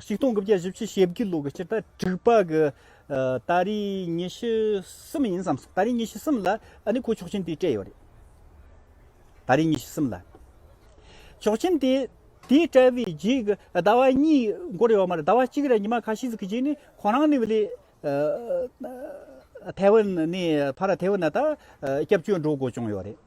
གཅིག་སྟོང་དགུ་བརྒྱ་བཞི་བཅུ་ཞེ་དགུའི་ལོ་གི་སྤྱིར་ད་དྲུག་པ་གི་ད་རེས་ཉི་ཤུ་གསུམ་ཡིན་བསམ་སོང་ད་རེས་ཉི་ཤུ་གསུམ་ལ་ཨ་ནི་ཁོའི་ཆོག་མཆན་དེ་སྤྲད་ཡོད་རེད། ད་རེས་ཉི་ཤུ་གསུམ་ལ་ཆོག་མཆན་དེ་དེ་སྤྲད་པའི་རྗེས་ཀྱི་ཟླ་བ་གཉིས་འགོར་ཡོད་མ་རེད་ཟླ་བ་གཅིག་རེད་ཉི་མ་ཁ་ཤས་ཟིག་གི་རྗེས་ནས་ཁོ་རང་ནི་ལས་ཐའེ་ཝན་ནས་ཕར་ཐའེ་ཝན་ན་ད་སྐྱབས་བཅོལ་འགྲོ་དགོས་བྱུང་ཡོད་རེད།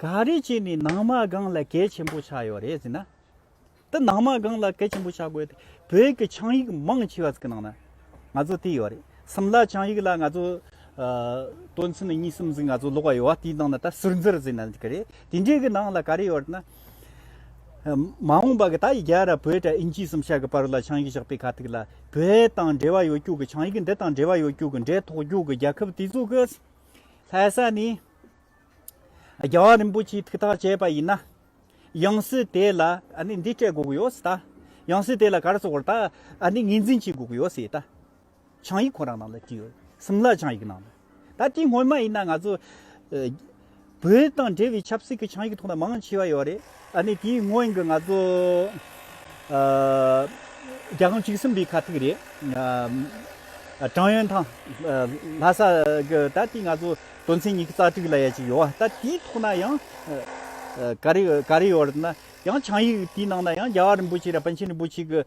ག་རེ་བྱས་ནས་ནང་མ་སྒང་ལ་གལ་ཆེན་པོ་ཆགས་ཡོད་རེད་ཟེར་ན། དེ་ནང་མ་སྒང་ལ་གལ་ཆེན་པོ་ཆགས་དགོས་ཏེ་བོད་ཀྱི་ཆིངས་ཡིག་མང་ཆེ་བ་ཟིག་གི་ནང་ན་ང་ཚོ་དེ་ཡོད་རེད་སིམ་ལ་ཆིངས་ཡིག་ལ་ང་ཚོ་དོན་ཚན་གཉིས་གསུམ་ཟིག་ང་ཚོ་ཀློག་པ་ཡོད་དེའི་ནང་ན་ད་ཟུར་འཛུར་ཟིག་ན་འགྲིག་གི་རེད་དེ་འདྲའི་གི་ནང་ལ་ག་རེ་ཡོད་ན། མ་འོངས་པ་གི་ད་ཡི་རྒྱལ་ར་བོད་དྲ་ཨིན་ཇིའི་སིམ་ཤར་གི་པར་ལ་ཆིངས་ཡིག་བཞག་པའི་ཁ་ཐུག་ལ་བོད་དང་འབྲེལ་བ་ཡོད་རྒྱུག་གི་ཆིངས་ཡིག་འདི་དང་འབྲེལ་བ་ཡོད་རྒྱུག་གི་འབྲེལ་ཐོག་རྒྱུག་གི་རྒྱལ་ཁབ་དེ་ཚོ་གི་ལྷ་ས་ནས་རྒྱལ་བ་རིན་པོ་ཆེའི་ཐུགས་ཐག་བཅད་པ་ཡིན་ན། ཡང་སྲིད་དེ་ལ་འདི་སྤྲད་དགོས་ཀྱི་ཡོད་སྲིད་ད། ཡང་སྲིད་དེ་ལ་གར་སོགས་བར་ཐག་ངེས་འཛིན་བྱེད་དགོས་ཀྱི་ཡོད་སྲིད་ད། ཆང་ཡིག་ཁོ་རང་ནང་ལ་བྲིས་ཡོད་སིམ་ལ་ཆང་ཡིག་ནང་ལ། ད་དེ་སྔོན་མ་ཡིན་ན་ང་ཚོ། བོད་དང་འབྲེལ་བའི་ཆབ་སྲིད་ཀྱི་ཆིངས་ཡིག་ཐོག་མཐའ་མང་ཆེ་བ་ཡོད་རེད། ཨ་ནི་དེའི་སྔོན་གྱི་ང་ཚོ་རྒྱ་གང་གཅིག་གསུམ་པའི་ཁ་ཐུག་རེད། ཀྲང་ཡོན་ཐང། ལྷ་ས། གི་ད་ལྟའི་ང་ཚོ་དོན་ཚན་ཉིས་རྩ་དྲུག་ལ་ཡ་གཅིག་ཡོད། ད་དེའི་ཐོག་ན་ཡང། ག་རེ་ཡོད་རེད་ན། ཡང་ཆིངས་ཡིག་དེའི་ནང་ན་ཡང་རྒྱ་བ་རིན་པོ་ཆེ་ར་པཎ་ཆེན་རིན་པོ་ཆེ་གི་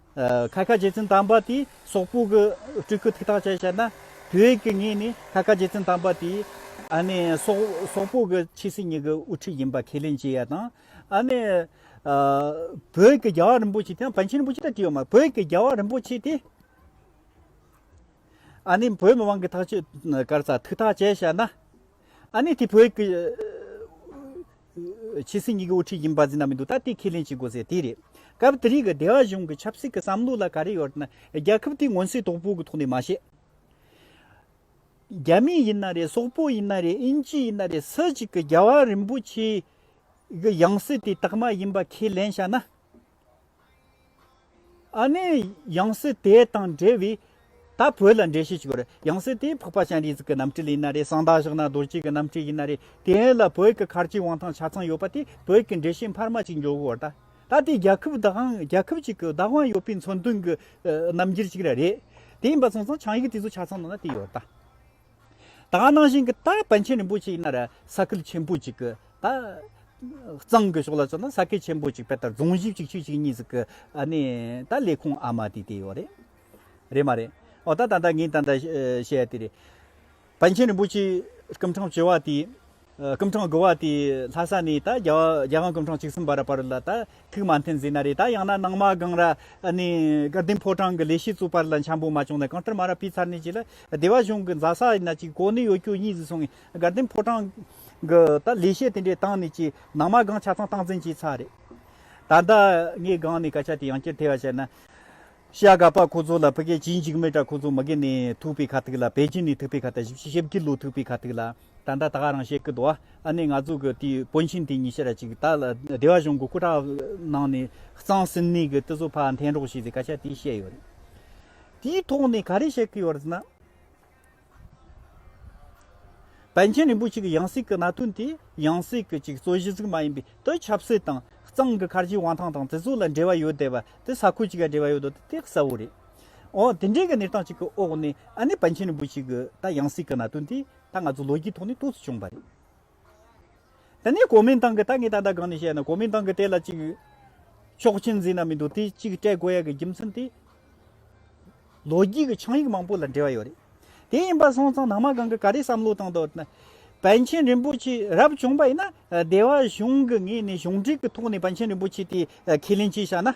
ཁ་ཁ་རྗེ་བཙུན་དམ་པ་དེའི་སོག་པོ་གི་སྤྲུལ་སྐུ་ཐིག་ཐག་བཅད་བྱས་ན། དུས་དབྱིག་གི་ངོས་ནས་ཁ་ཁ་རྗེ་བཙུན་དམ་པ་དེའི། ཨ་ནི། སོག་པོ་གི་ཕྱི་སྲིད་གཉིས་ཀྱི་དབུ་ཁྲིད་ཡིན་པ་ཁས་ལེན་བྱེད་ཡ་དང། ཨ་ནི། བོད་ཀྱི་རྒྱལ་བ་རིན་པོ་ཆེ་དེའང་བན་ཆེན་རིན་པོ་ཆེ་ལྟར་བྲིས་ཡོད་མ་རེད་བོད་ཀྱི་རྒྱལ་བ་རིན་པོ་ཆེ་དེ། ཨ་ནི་བོད་མི་དབང་གི་ཐག་གཅོད་གར་ས་ཐིག་ཐག་བཅད་བྱས་ན། ཨ་ནི་དེ་བོད་ཀྱི། ཕྱི་སྲིད་གཉིས་ཀྱི་དབུ་ཁྲིད་ཀྱི་འབའ་ཟིན་ན་མི་འདུག་ད་ལྟའི་ཁས་ལེན་བྱེད་དགོས་ཟེར་དེ་རེད། སྐབས་དེ་རིང་གི་སྡེ་བ་གཞུང་གི་ཆབ་སྲིད་ཀྱི་བསམ་བློ་ལ་ག་རེ་ཡོད་ན་རྒྱལ་ཁབ་དེའི་མངོན་གསལ་དོག་པོ་གི་ཐོག་ནས་མ་བཤད། རྒྱ་མི་ཡིན་ན་རེད་སོག་པོ་ཡིན་ན་རེད་དབྱིན་ཇི་ཡིན་ན་རེད་སུ་གཅིག་གི་རྒྱལ་བ་རིན་པོ་ཆེའི་ཡང་སྲིད་དེ་དག་མ་ཡིན་པ་ཁས་ལེན་བྱ་ན། ཨ་ནི་ཡང་སྲིད་དེ་དང་འབྲེལ་བའི། ད་བོད་ལ་འགྲེལ་བཤད་ཅིག་གོ། ཡང་སྲིད་དེ་ཕག་པ་ཤན་རིའི་གཟུགས་ཀྱི་རྣམ་སྤྲུལ་ཡིན་ན་རེ་གསང་བདག་བཞག་ན་རྡོ་རྗེ་གི་རྣམ་སྤྲུལ་ཡིན་ན་རེ། དེ་ལ་བོད་ཀྱི་མཁར་གྱི་དབང་ཐང་ཆ་ཚང་ཡོད་པ་དེ་བོད་ཀྱི་འགྲེལ་བཤད་འཕར་མ་གཅིག་འཇོག་དགོས་བ་ད། ད་དེ་རྒྱལ་ཁབ་བདག་དབང་རྒྱལ་ཁབ་ཅིག་གི་བདག་དབང་ཡོད་པའི་མཚོན་དོན་གྱི་རྣམ་འགྱུར་ཅིག་ར་རེད། དེ་ཡིན་པ་སོང་ཙང་ཆང་ཡིག་དེ་ཚོ་ཆ་ཚང་ནང་ན་དེ་ཡོད་ད། ད་ནང་བཞིན་གྱི་ད་པཎ་ཆེན་རིན་པོ་ཆེ་ཡིན་ན་ར་ས་སྐལ་ཆེན་པོ་ཅིག་གི་ད་གཙང་གི་ཕྱོགས་ལ་སོང་ན་ས་སྐལ་ཆེན་པོ་ཅིག་པད་དར་རྫོང་བཞི་ཅིག་ཆུས་ཅིག་གཉིས་ཟིག་གི་ཨ་ནི་ད་ལས་ཁུངས་ཨ་མ་དེ་དེ་ཡོད་རེད། རེད་མ་རེད། འོ་ད་ད་ད་ངས་ད་ད་བཤད་དེ་རེད། པཎ་ཆེན་རིན་པོ་ཆེའི་སྐུ་འཕྲང་བཅོལ་བ་དེ། སྐུ་འཕྲང་དགུ་བ་དེ་ལྷ་ས་ནས་ད་རྒྱ་དབང་སྐུ་འཕྲང་གཅིག་གསུམ་བར་བར་ལ་ད་ཐུག་མ་འཐེན་ཟིན་ན་རེད་ད་ཡང་ན་ནང་མ་སྒང་ར་ནས་སྐར་ལྡན་ཕོ་བྲང་གི་ལས་བྱེད་ཚོ་བར་ལ་འཆམ་པོ་མ་བྱུང་ན་གང་ལྟར་མ་ར་ཕི་ཚར་ནས་ཅི་ལ་སྡེ་བ་གཞུང་གི་མཛའ་ས་ཡིན་ན་ཅིག་གོ་ནས་ཡོད་ཁྱོད་གཉིས་ཟིག་སོང་ངས་སྐར་ལྡན་ཕོ་བྲང་གི་ད་ལས་བྱེད་དེ་འདྲས་བཏང་ནས་ཅིག་ནང་མ་སྒང་ཆ་ཚང་བཏང་ཟིན་ཅིག་ཚར་རེད་ད་ད་ངས་སྒང་ནས་སྐད་ཆ་དེ་ཡང་བསྐྱར་ཐེ་བ་བྱས་ན། ཤ་ག་པ་ཁོ་ཚོ་ལ་ཕི་ཀེ་ཅིན་འཇིགས་མེད་དྲ་ཁོ་ཚོ་མི་གེ་ནས་ཐུག་པའི་ཁ་ཐུག་ལ་པེ་ཅིན་ནས་ཐུག་པའི་ཁ་ཐག་བཞི་བཞི་ཞབས་ཀི་ལུག་ཐུག་པའི་ཁ་ཐུག་ལ་ད་ད་ད་ག་རང་བཤད་ཀི་འདུག་ཨ་ནེ་ང་ཚོ་གི་དེའི་པོན་ཆེན་དེ་ཉི་ཤ་ར་ཅིག་ད་སྡེ་བ་གཞུང་གི་སྐུ་དྲག་གནང་ནས་གཙང་སིན་གནས་གི་ཏི་ཟོ་ཕ་འཐེན་རོགས་བྱས་ཟེ་ཀ་ཤ་དེ་བཤད་ཡོད་རེད་དེའི་ཐོག་ནས་ག་རེ་བཤད་ཀི་ཡོད་རེད་ཟེ་ན། པཎ་ཆེན་རིན་པོ་ཆེ་གི་ཡང་སྲིད་ཀྱི་གནའ་དོན་དེ་ཡང་སྲིད་ཀྱི་གཅིག་གཙོ་གཞི་གཟུགས་མ་ཡིན་པའི་དོན་ཆབ་སྲིད་དང་གཙང་གི་མཁར་རྒྱུད་དབང་ཐང་དང་དེ་ཚོ་ལ་འབྲེལ་བ་ཡོད་བསྡད་པ་དེ་ས་ཁུལ་གཅིག་ལ་འབྲེལ་བ་ཡོད་དོ་དེ་ཐེག་གསལ་བོ་རེད། འོན་དེ་འདྲའི་གི་གནས་སྟངས་གཅིག་གི་འོག་ནས་ཨ་ནེ་པཎ་ཆེན་རིན་པོ་ཆེ་གི་ད་ཡང་སྲིད་ཀྱི་གནའ་དོན་དེ་ད་ང་ཚོ་ལོ་རྒྱུས་ཐོག་ནས་ཏོག་ཙུ་བྱུང་བ་རེད། ད་ནི་གོ་མིན་ཏང་གི་ད་ངས་ད་ལྟ་གང་ནས་བཤད་ན་གོ་མིན་ཏང་གི་དེ་ལ་གཅིག་ཆོག་མཆན་འཛིན་ན་མི་འདུག་དེ་གཅིག་སྤྲད་དགོས་ཡག་གི་རྒྱུ་མཚན་དེ་ལོ་རྒྱུས་ཀྱི་ཆིངས་ཡིག་མང་པོ་ལ་འབྲེལ་བ་ཡོད་རེད། དེ་ཡིན་པ་སོང་ཙང་ནང་མ་གང་གི་ག་རེ་བསམ་བློ་བཏང་འདུག་ན། བན་ཆེན་རིན་པོ་ཆེ་རབ་བྱུང་པ་ཡིན་ན་སྡེ་བ་གཞུང་གི་ངོས་ནས་གཞུང་འབྲེལ་གྱི་ཐོག་ནས་བན་ཆེན་རིན་པོ་ཆེ་དེ་ཁས་ལེན་བྱས་བཞག་ན།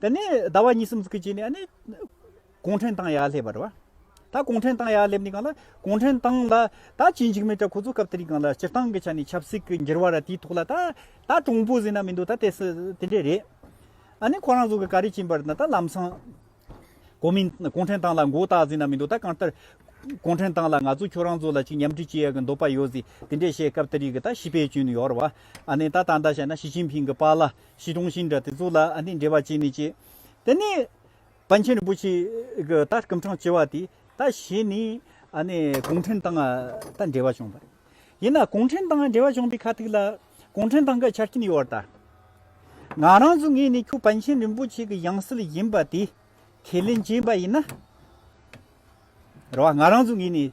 དེ་ནས་ཟླ་བ་གཉིས་གསུམ་གྱི་རྗེས་ནས་ནི། གུང་ཁྲན་ཏང་ཡག་སླེབས་པ་རེད་བ། ད་གུང་ཁྲན་ཏང་ཡག་སླེབས་ནས་གང་ལ་གུང་ཁྲན་ཏང་ལ་ད་ཇི་འཇིགས་མེད་ཀྱི་ཁོ་ཚོ་སྐབས་དེ་རིང་གང་ལ་སྤྱིར་བཏང་གི་ཆ་ནས་ཆབ་སྲིད་ཀྱི་འགྱུར་བ་ར་དེའི་ཐོག་ལ་ད་ད་གྲུང་པོ་ཟིན་ན་མི་འདུག་ད་དེ་དེ་འདྲས་རེད། ཨ་ནི་ཁོ་རང་ཚོ་གི་ག་རེ་བྱིན་པར་ད་ལམ་སང། གོ་མིན་གུང་ཁྲན་ཏང་ལ་མགོ་བཏགས་ཟིན་ན་མི་འདུག་ད་གང་ལྟར། གུང་ཁྲན་ཏང་ལ་ང་ཚོ་ཁྱོད་རང་ཚོ་ལ་ཅིག་མཉམ་འབྲེལ་བྱེད་ཡག་གི་འདོད་པ་ཡོད་ཟིག་དེ་འདྲས་བཤད་སྐབས་དེ་རིང་གི་ད་ཞི་པའི་སྐྱོན་ཡོད་རེད་བ། ཨ་ནི་ད་ད་ལྟ་བཤད་ན་ཞི་ཅིན་ཕིང་གི་པ་ལ། ཞེས་དྲུང་ཞིང་འདྲ་དེ་གཙུག་ལག་ཨ་འདི་འདྲེ་བ་ཅན་ནི་ཅི། དེ་ནས་པཎ་ཆེན་རིན་པོ་ཆེས་ད་སྐུ་འཕྲང་བྱེ་བ་དེ་ད་བྱས་ནས་གུང་ཁྲན་ཏང་དང་འབྲེལ་བ་བྱུང་བ། ཡིན་ན་གུང་ཁྲན་ཏང་འབྲེལ་བ་བྱུང་པའི་ཁ་ཐུག་ལ་གུང་ཁྲན་ཏང་གི་ཆ་རྐྱེན་ཡོད་ད། ང་རང་ཚོ་ངེས་ནས་ཁྱོད་པཎ་ཆེན་རིན་པོ་ཆེ་གི་ཡང་སྲིད་ཡིན་པ་དེ་ཁས་ལེན་བྱས་པ་ཡིན་ན། རེད་བ། ང་རང་ཚོ་ངེད་ནས་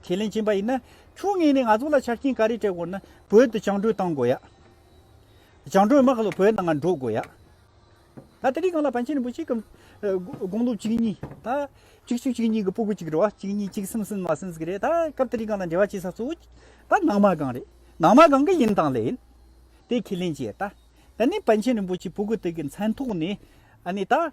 ཁས་ལེན་བྱེད་པ་ཡིན་ན་ཁྱོད་ངེད་ནས་ང་ཚོ་ལ་ཆ་རྐྱེན་ག་རེ་སྤྲད་དགོས་ན་བོད་དུ་བྱང་བགྲོད་བཏང་དགོས་ཡ། བྱང་བགྲོད་དམག་ལ་བོད་ནང་ང་འགྲོ་དགོས་ཡ། ད་དེ་རིགས་གང་ལ་པཎ་ཆེན་རིན་པོ་ཆེ་གམ་དགོངས་ལུགས་གཅིག་གཉིས་ད་གཅིག་ཆུ་གཅིག་གཉིས་ཀྱི་སྤུ་གུ་གཅིག་རེད་བ་གཅིག་གཉིས་གཅིག་གསུམ་གསུམ་མ་གསུམ་ཟིག་རེད་ད་སྐབས་དེ་རིགས་གང་ལ་འབྲེལ་བ་བྱེད་ས་གཙོ་བོ་ད་ནང་མ་གང་རེད་ནང་མ་གང་གི་ཡིན་དང་ལེན་དེ་ཁས་ལེན་བྱེད་ཡ། ད་ནི་པཎ་ཆེན་རིན་པོ་ཆེ་སྤུ་གུ་དག་གི་མཚན་ཐོག་ནས་ཨ་ནི་ད།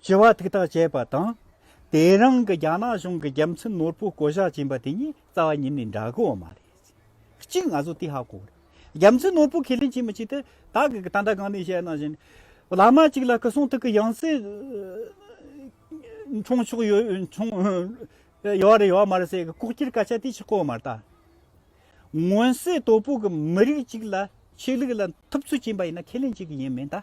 སྤྱི་བ་ཐུགས་ཐག་བཅད་པ་དང། དེ་རིང་གི་རྒྱ་ནག་གཞུང་གི་རྒྱལ་མཚན་ནོར་བུ་བསྐོ་བཞག་བྱིན་པ་དེ་ཉིད་རྩ་བ་ཉིད་ནས་འདྲ་གི་འོ་མ་རེད། གཅིག་ང་ཚོ་དེ་ཧ་གོ་རེད། རྒྱལ་མཚན་ནོར་བུ་ཁས་ལེན་བྱེད་མི་བྱེད་དེ་ད་གི་ད་ལྟ་གང་ནས་བཤད་ན་བཞིན་བླ་མ་གཅིག་ལ་སྐུ་གསུང་ཐུགས་ཀྱི་ཡང་སྲིད་འཆང་ཆོག་ཡོད་རེད་ཡོད་མ་རེད་ཟེར་གི་ལྐོག་གྱུར་སྐད་ཆ་དེ་ཆི་གོ་མ་རྟ། མངོན་གསལ་དོད་པོ་གི་མི་རིགས་གཅིག་ལ་ཆོས་ལུགས་ལ་ཐུབ་ཚོད་བྱིན་པ་ཡིན་ན་ཁས་ལེན་བྱེད་གི་ཡིན་མིན་ད།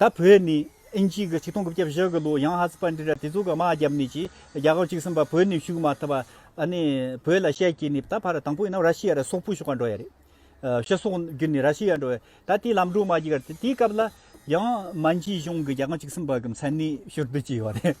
ད་བོད་ནི་ཨིན་ཇིའི་གི་ཆིག་སྟོང་དགུ་བརྒྱ་བཞི་གི་ལོའི་ཡང་ཧ་ཙི་པར་འདི་ར་དེ་ཚོ་གི་དམག་རྒྱབ་ནི་ཆི་རྒྱ་གར་ཆིག་སིམ་པ་བོད་ནི་ཞུགས་མ་ཐུབ་པ་ཨ་ནི་བོད་ལ་ཤད་ཀྱི་ནི་ད་བར་དང་པོ་ཡིན་ནམ་ར་ཤི་ཡ་ར་སོག་པོ་ཞུགས་ཀ་འགྲོ་ཡ་རེད། ཤི་སོག་རྒྱུ་ནི་ར་ཤི་ཡ་འགྲོ་ད་དེ་ལམ་འགྲོ་མ་གྱི་ག་རེད་དེ་སྐབས་ལ་ཡང་མན་ཇིའི་གཞུང་གི་རྒྱ་གར་ཆིག་སིམ་པ་གི་མཚན་ནི་ཤོར་དུ་གྱི་ཡོ་རེད།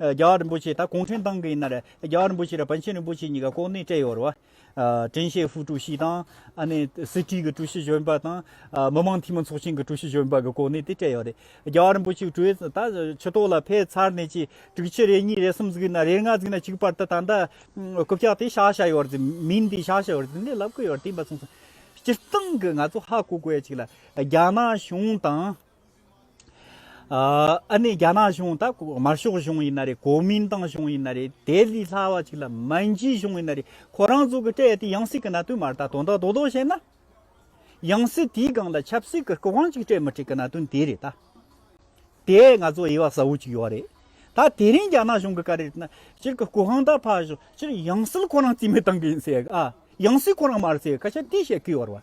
རྒྱ་བ་རིན་པོ་ཆེ་ད་གུང་ཁྲན་ཏང་གི་ཡིན་ན་རེད་རྒྱ་བ་རིན་པོ་ཆེ་དང་བན་ཆེན་རིན་པོ་ཆེ་གཉིས་ཀ་ལྐོག་ནས་སྤྲད་ཡོད་རེད་བ། ཀྲེན་ཤེ་ཧྥུའུ་ཀྲུའུ་ཞི་དང། ཨ་ནེ། སྲིད་ཁྲིའི་གི་ཀྲུའུ་ཞི་གཞོན་པ་དང། མི་མང་འཐུས་མི་ཚོགས་ཆེན་གི་ཀྲུའུ་ཞི་གཞོན་པ་གི་ལྐོག་ནས་དེ་སྤྲད་ཡོད་རེད། རྒྱ་བ་རིན་པོ་ཆེའི་ཀྲུའུ་ཨེ་ད་ཆུ་ཐོག་ལ་ཕེབས་ཚར་ནས་ཀྱི་དྲུག་ཅུ་རེ་གཉིས་རེ་གསུམ་བརྩིགས་ན་རེ་ལྔ་བརྩིགས་ན་གཅིག་པར་ད་ད་ལྟ་རྐུབ་བཀྱག་དེ་བཤགས་བྱ་ཡོད་རེད་མིན་དེ་བཤགས་བྱ་ཡོད་རེད་དེ་ལབ་གི་ཡོད་རེད་དེ་འབའ་གསུངས་སོང། སྤྱིར་བཏང་གི་ང་ཚོ་ཧ་གོ་དགོས་ཡོད་ཅིག་ལ་རྒྱ་ནག་གཞུང་དང། ཨ་ནི་རྒྱ་ནག་གཞུང་དང་དམར་ཤོག་གཞུང་ཡིན་ན་རེད་གོ་མིན་ཏང་གཞུང་ཡིན་ན་རེད་དེ་ལས་སླ་བ་ཅིག་ལ་མན་ཇུའི་གཞུང་ཡིན་ན་རེད་ཁོ་རང་ཚོ་གི་སྤྲད་དེ་ཡང་སྲིད་ཀྱི་གནད་དོན་མར་ད་དོན་དག་དོ་དོ་བྱས་ན། ཡང་སྲིད་དེའི་སྒང་ལ་ཆབ་སྲིད་ཀྱི་སྐུ་གང་ཅིག་སྤྲད་མི་སྤྲད་ཀྱི་གནད་དོན་དེ་རེད་ད། དེ་ང་ཚོ་དབྱེ་བ་གསལ་བོ་ཅིག་ཡོད་རེད་ད་དེ་རིང་རྒྱ་ནག་གཞུང་གི་བཀའ་རེད་ན་སྤྱིར་ཀྱི་སྐུ་གང་དག་ཕ་བཞུགས་སྤྱིར་ཡང་སྲིད་ཁོ་རང་རྩིས་མེད་བཏང་གི་ཡིན་ཟེར་ཡང་སྲིད་ཁོ་རང་མར་ཟེར་ཁ་ཆད་དེ་བྱེད་ཀྱི་ཡོད་རེད།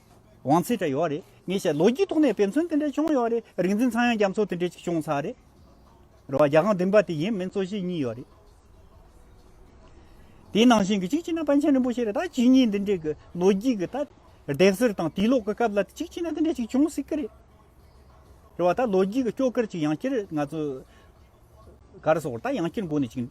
བང་ཚད་འདྲ་ཡོད་རེད་ངས་བཤད་ལོ་རྒྱུས་ཐོག་ནས་དཔེ་མཚོན་དེ་འདྲ་བྱུང་ཡོད་རེད་རིག་འཛིན་ཚང་ཡང་རྒྱ་མཚོ་དེ་འདྲ་ཅིག་བྱུང་ཚར་རེད། རེད་བ་རྒྱ་གང་བདུན་པ་དེ་ཡིན་མིན་གཙོ་གཞི་གཉིས་ཡོད་རེད། དེའི་ནང་བཞིན་གྱི་གཅིག་བྱས་ན་པཎ་ཆེན་རིན་པོ་ཆེ་རེད་ད་ཇི་སྙེད་འདི་འདྲའི་གི་ལོ་རྒྱུས་གི་ད་བརྡེག་གསར་དང་དུས་ལོག་གི་སྐབས་ལ་གཅིག་བྱས་ན་འདི་འདྲ་ཅིག་བྱུང་སྲིད་གི་རེད། རེད་བ་ད་ལོ་རྒྱུས་གི་སྐྱོ་སྐར་ཅིག་ཡང་བསྐྱར་ང་ཚོ་གར་སོང་བར་ད་ཡང་བསྐྱར་མགོ་ནས་ཅིག་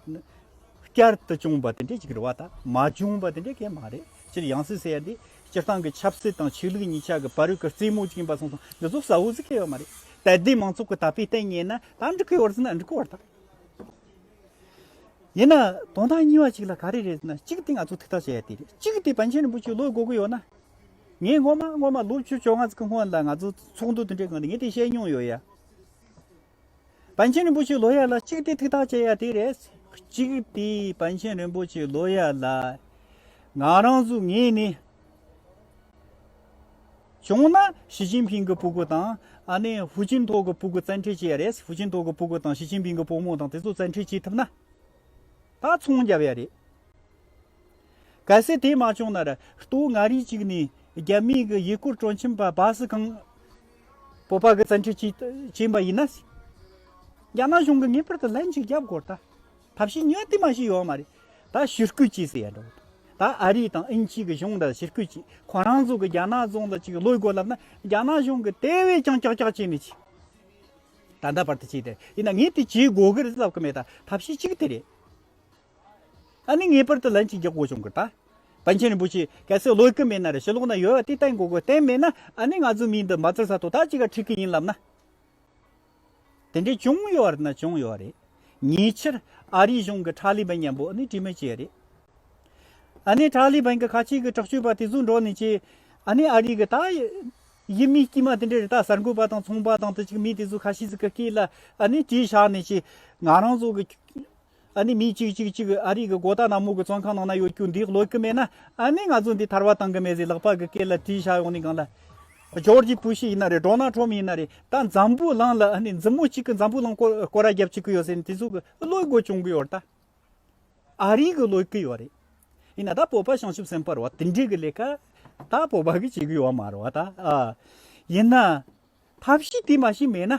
བསྐྱར་དུ་བྱུང་བ་དེ་འདྲ་ཅིག་རེད་བ་ད་མ་བྱུང་བ་དེ་འདྲ་གས་མ་རེད། སྤྱིར་ཡང་སྲིད་ཟེར་ཡ་འདི་སྤྱིར་བཏང་གི་ཆབ་སྲིད་དང་ཆོས་ལུགས་གཉིས་ཆ་གི་བར་གྱི་རྩེད་མོ་ཅིག་ཡིན་པ་སོང་སོང་འདི་ཚོ་བསམ་བོ་ཟིག་གི་ཡོད་མ་རེད་དད་ལྡན་མང་ཚོགས་ཀྱི་དད་པའི་ལྟས་ངན་ན་ད་འགྲིག་གི་ཡོད་ཟེར་ན་འགྲིག་གི་ཡོད་དམ། ཡིན་ན་དོན་དག་གཉིས་བ་ཅིག་ལ་ག་རེ་རེད་ཟེར་ན་གཅིག་དེ་ང་ཚོ་ཐིག་ཐག་བཅད་ཡ་དེ་རེད་གཅིག་དེ་པཎ་ཆེན་རིན་པོ་ཆེའི་བློ་དགོས་ཀྱི་ཡོད་ན། ངས་སྔོན་མ་སྔོན་མ་ལོ་བཅུ་བཅོ་ལྔ་ཙིག་གི་སྔོན་ལ་ང་ཚོ་ཚོགས་འདུ་དེ་འདྲའི་སྔོན་ལ་ངས་དེ་བཤད་མྱོང་ཡོད་ཡ། པཎ་ཆེན་རིན་པོ་ཆེའི་ལོ་ཡར་ལ་གཅིག་སྟེ་ཐིག་ཐག་བཅད་ཡ་དེ་རེད། གཅིག་སྟེ་པཎ་ཆེན་རིན་པོ་ཆེའི་ལོ་ཡར་ལ། ང་རང་གཟུགས་ངེས་ནས། བྱུང་ན་ཞི་ཅིན་ཕིང་གི་སྤུ་གུ་དང། ཨ་ནེ་ཧྥུ་ཅིན་ཐོག་གི་སྤུ་གུ་བཙན་ཁྲིད་བྱས་ཡ་རེད། ཧྥུ་ཅིན་ཐོག་གི་སྤུ་གུ་དང་ཞི་ཅིན་ཕིང་གི་སྤུ་མོ་དང་དེ་ཚོ་བཙན་ཁྲིད་བྱེད་ཐུབ་ན། ད་ཚོང་བརྒྱབ་ཡ་རེད། གལ་སྲིད་དེ་མ་བྱུང་ན། ལྟོ་ང་རིགས་གཅིག་ནས་རྒྱ་མིའི་གི་ཡིག་སྐུར་དྲོན་ཁྱིམ་པ་སྦ་སི་གང། སྤོབས་པ་གི་བཙན་བྱོལ་སྤྱི་བྱིངས་པ་ཡིན་ན། རྒྱ་ནག་གཞུང་གི་ངེས་པར་དུ་ལན་ཞིག་རྒྱབ་དགོས་རེད། ཐབས་ཤེས་ཉོས་དུས་མ་ཞིག་ཡོད་མ་རེད། ད་ཕྱིར་སྐུལ་བྱས་ཟེར་ཡ་འགྲོ། ད་ཨ་རི་དང་ཨིན་ཇི་གི་གཞུང་འདྲ་ཕྱིར་སྐུལ་བྱས་ཁོ་རང་ཚོ་གི་རྒྱ་ནག་རྫོང་དང་གཅིག་ལོས་དགོས་ལབ་ན་རྒྱ་ནག་གཞུང་གི་དེ་བས་ཀྱང་ཀྱག་ཀྱག་བྱས་མི་ཆེ། ད་ད་བར་དུ་བྱས་དེ་རེད་ཡིན་ན་ངས་དེ་བྱེད་དགོས་གི་རེད་ལབ་གི་མེད་ད་ཐབས་ཤེས་གཅིག་དེ་རེད། ད་ནི་ངེས་པར་དུ་ལན་གཅིག་རྒྱག་དགོས་བྱུང་གི་ད། པཎ་ཆེན་རིན་པོ་ཆེས་གལ་སྲིད་བློས་སྐུལ་མེད་ན་རེ་ཞིག་ལོགས་ན་ཡོད་དེ་བསྟན་དགོས་དགོས་བསྟན་མེད་ན་ཨ་ནི་ང་ཚོའི་མིའི་འདི་འབའ་ཚུལ་ས་ཐོག་ད་ཅིག་ག་འཁྲིད་གི་ཡིན་ལབ་ན། དེ་འདྲའི་བྱུང་ཡོད་རེད་ན་བྱུང་ཡོད་རེད། ཉེ་ཆར་ཨ་རིའི་གཞུང་གི་ཁྲ་ལི་བན་མཉམ་པོ་ཨ་ནི་དྲི་མེད་བྱས་རེད། ཨ་ནི་ཁྲ་ལི་བན་གི་ཁ་ཆེ་གི་དྲག་སྤྱོད་པ་དེ་ཚོའི་འགྲོ་ནས་ཀྱི་ཨ་ནི་ཨ་རིའི་གི་ད། ཡི་མི་དཀྱུས་མ་དེ་འདྲའི་རི་དྭགས་གསར་འགོད་པ་དང་ཚོང་པ་དང་དེ་ཅིག་མི་དེ་ཚོའི་ཁ་ཤས་ཚོའི་ཀི་ཀི་ལ་ཨ་ནི་དྲིས་བཞག་ནས་ཀྱི་ང་རང་ཚོ་གི། ཨ་ནི་མི་གཅིག་གཅིག་གཅིག་ཨ་རིག་གི་སྒོ་རྟགས་ནག་མོ་གི་བཙོན་ཁང་ནང་ན་ཡོད་རྒྱུ་འདི་ཀློད་ཀི་མེད་ན་ཨ་ནི་ང་ཚོ་འདི་ཐར་བ་བཏང་གི་མེད་ཟིག་ལག་པ་གི་སྐེ་ལ་དྲིས་བཞག་ཡོང་ནི་གང་ལ། ཇོར་ཇི་བུ་ཞིག་ཡིན་ན་རེད་འབྲོག་ནག་ཁྲོ་མི་ཡིན་ན་རེད་ད་འཛམ་བུ་གླང་ལ་ཨ་ནི་འཛིན་མོ་གཅིག་གི་འཛམ་བུ་གླང་སྐོར་ར་རྒྱབ་བྱེད་ཀི་ཡོད་ཟེར་ནི་དེ་ཚོ་གི་ཀློད་དགོས་བྱུང་གི་ཡོད་རེད་ད། ཨ་རིག་གི་ཀློད་ཀི་ཡོད་རེད། ཡིན་ན་ད་བོད་པ་བྱང་ཆུབ་སེམས་དཔར་བ་དེ་འདྲས་གི་ལས་ཀ་ད་བོད་པ་གི་བྱེད་གི་ཡོད་མ་རེད་བ་ད། ཡིན་ན་ཐབས་ཤེས་དེ་མ་ཤེས་མེད་ན།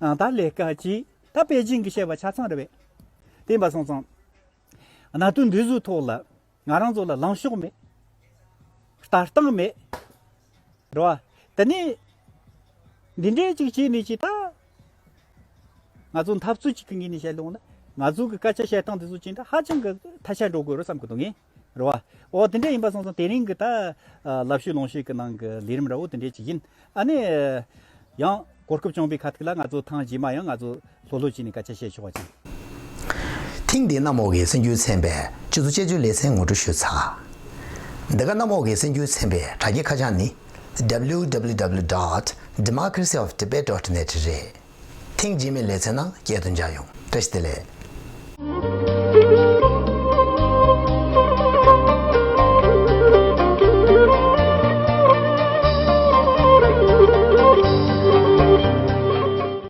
ཨང་རྟགས་ལས་སྐལ་གྱིས་ད་པེ་ཅིང་གི་བཤད་པ་ཆ་ཚང་རེད་བས། བསྟན་པ་སོང་ཙང། གནའ་དུས་འདི་ཟུ་ཐོག་ལ་ང་རང་ཚོ་ལ་ལངས་ཕྱོགས་མེད། ལྟ་སྟངས་མེད། རེད་བ། དེ་ནས། འདི་འདྲས་ཅིག་བྱས་ནས་ཅིག་ད། ང་ཚོ་འཐབ་རྩོད་ཅིག་གི་ངོས་ནས་བཤད་ལོང་ན། ང་ཚོ་གི་སྐད་ཆ་བཤད་སྟངས་འདི་ཚོ་ཅི་འདྲ་ཧ་ཅང་གི་ཐ་ཤལ་འགྲོ་དགོས་རེད་བསམ་གི་འདུག་ངེས། རེད། རེད་བ། འོ་དེ་འདྲས་ཡིན་པ་སོང་སོང་དེ་རིང་གི་ད། ལབ་ཤུལ་ལོངས་ཤུལ་གྱི་ནང་གི་ལས་རིམ་ར་བོ་དེ་འདྲས་བྱེད་ཀྱིན། ཨ་ནི། ཡང། གོ་སྐབས་བྱུང་བའི་ཁ་ཐུག་ལ་ང་ཚོ་ཐང་རྗེས་མ་ཡང་ང་ཚོ་ལྷོད་ལྷོད་བྱས་ནས་སྐད་ཆ་བཤད་ཆོག་ཅིག། ཐེངས་འདིའི་གནམ་འོག་གི་སེམས་འགྱུར་ཚན་པའི་སྤྱི་ཚོགས་དཔྱད་བརྗོད་ལེ་ཚན་ངོ་སྤྲོད་ཞུ་ཚགས། འདི་ག་གནམ་འོག་གི་སེམས་འགྱུར་ཚན་པའི་དྲ་རྒྱའི་ཁ་བྱང་ནི www. Democracy of Tibet. net རེད། ཐེངས་རྗེས་མའི་ལེ་ཚན་ནང་བསྐྱལ་དུ་འཇགས་ཡོང་བཀྲ་ཤིས་བདེ་ལེགས།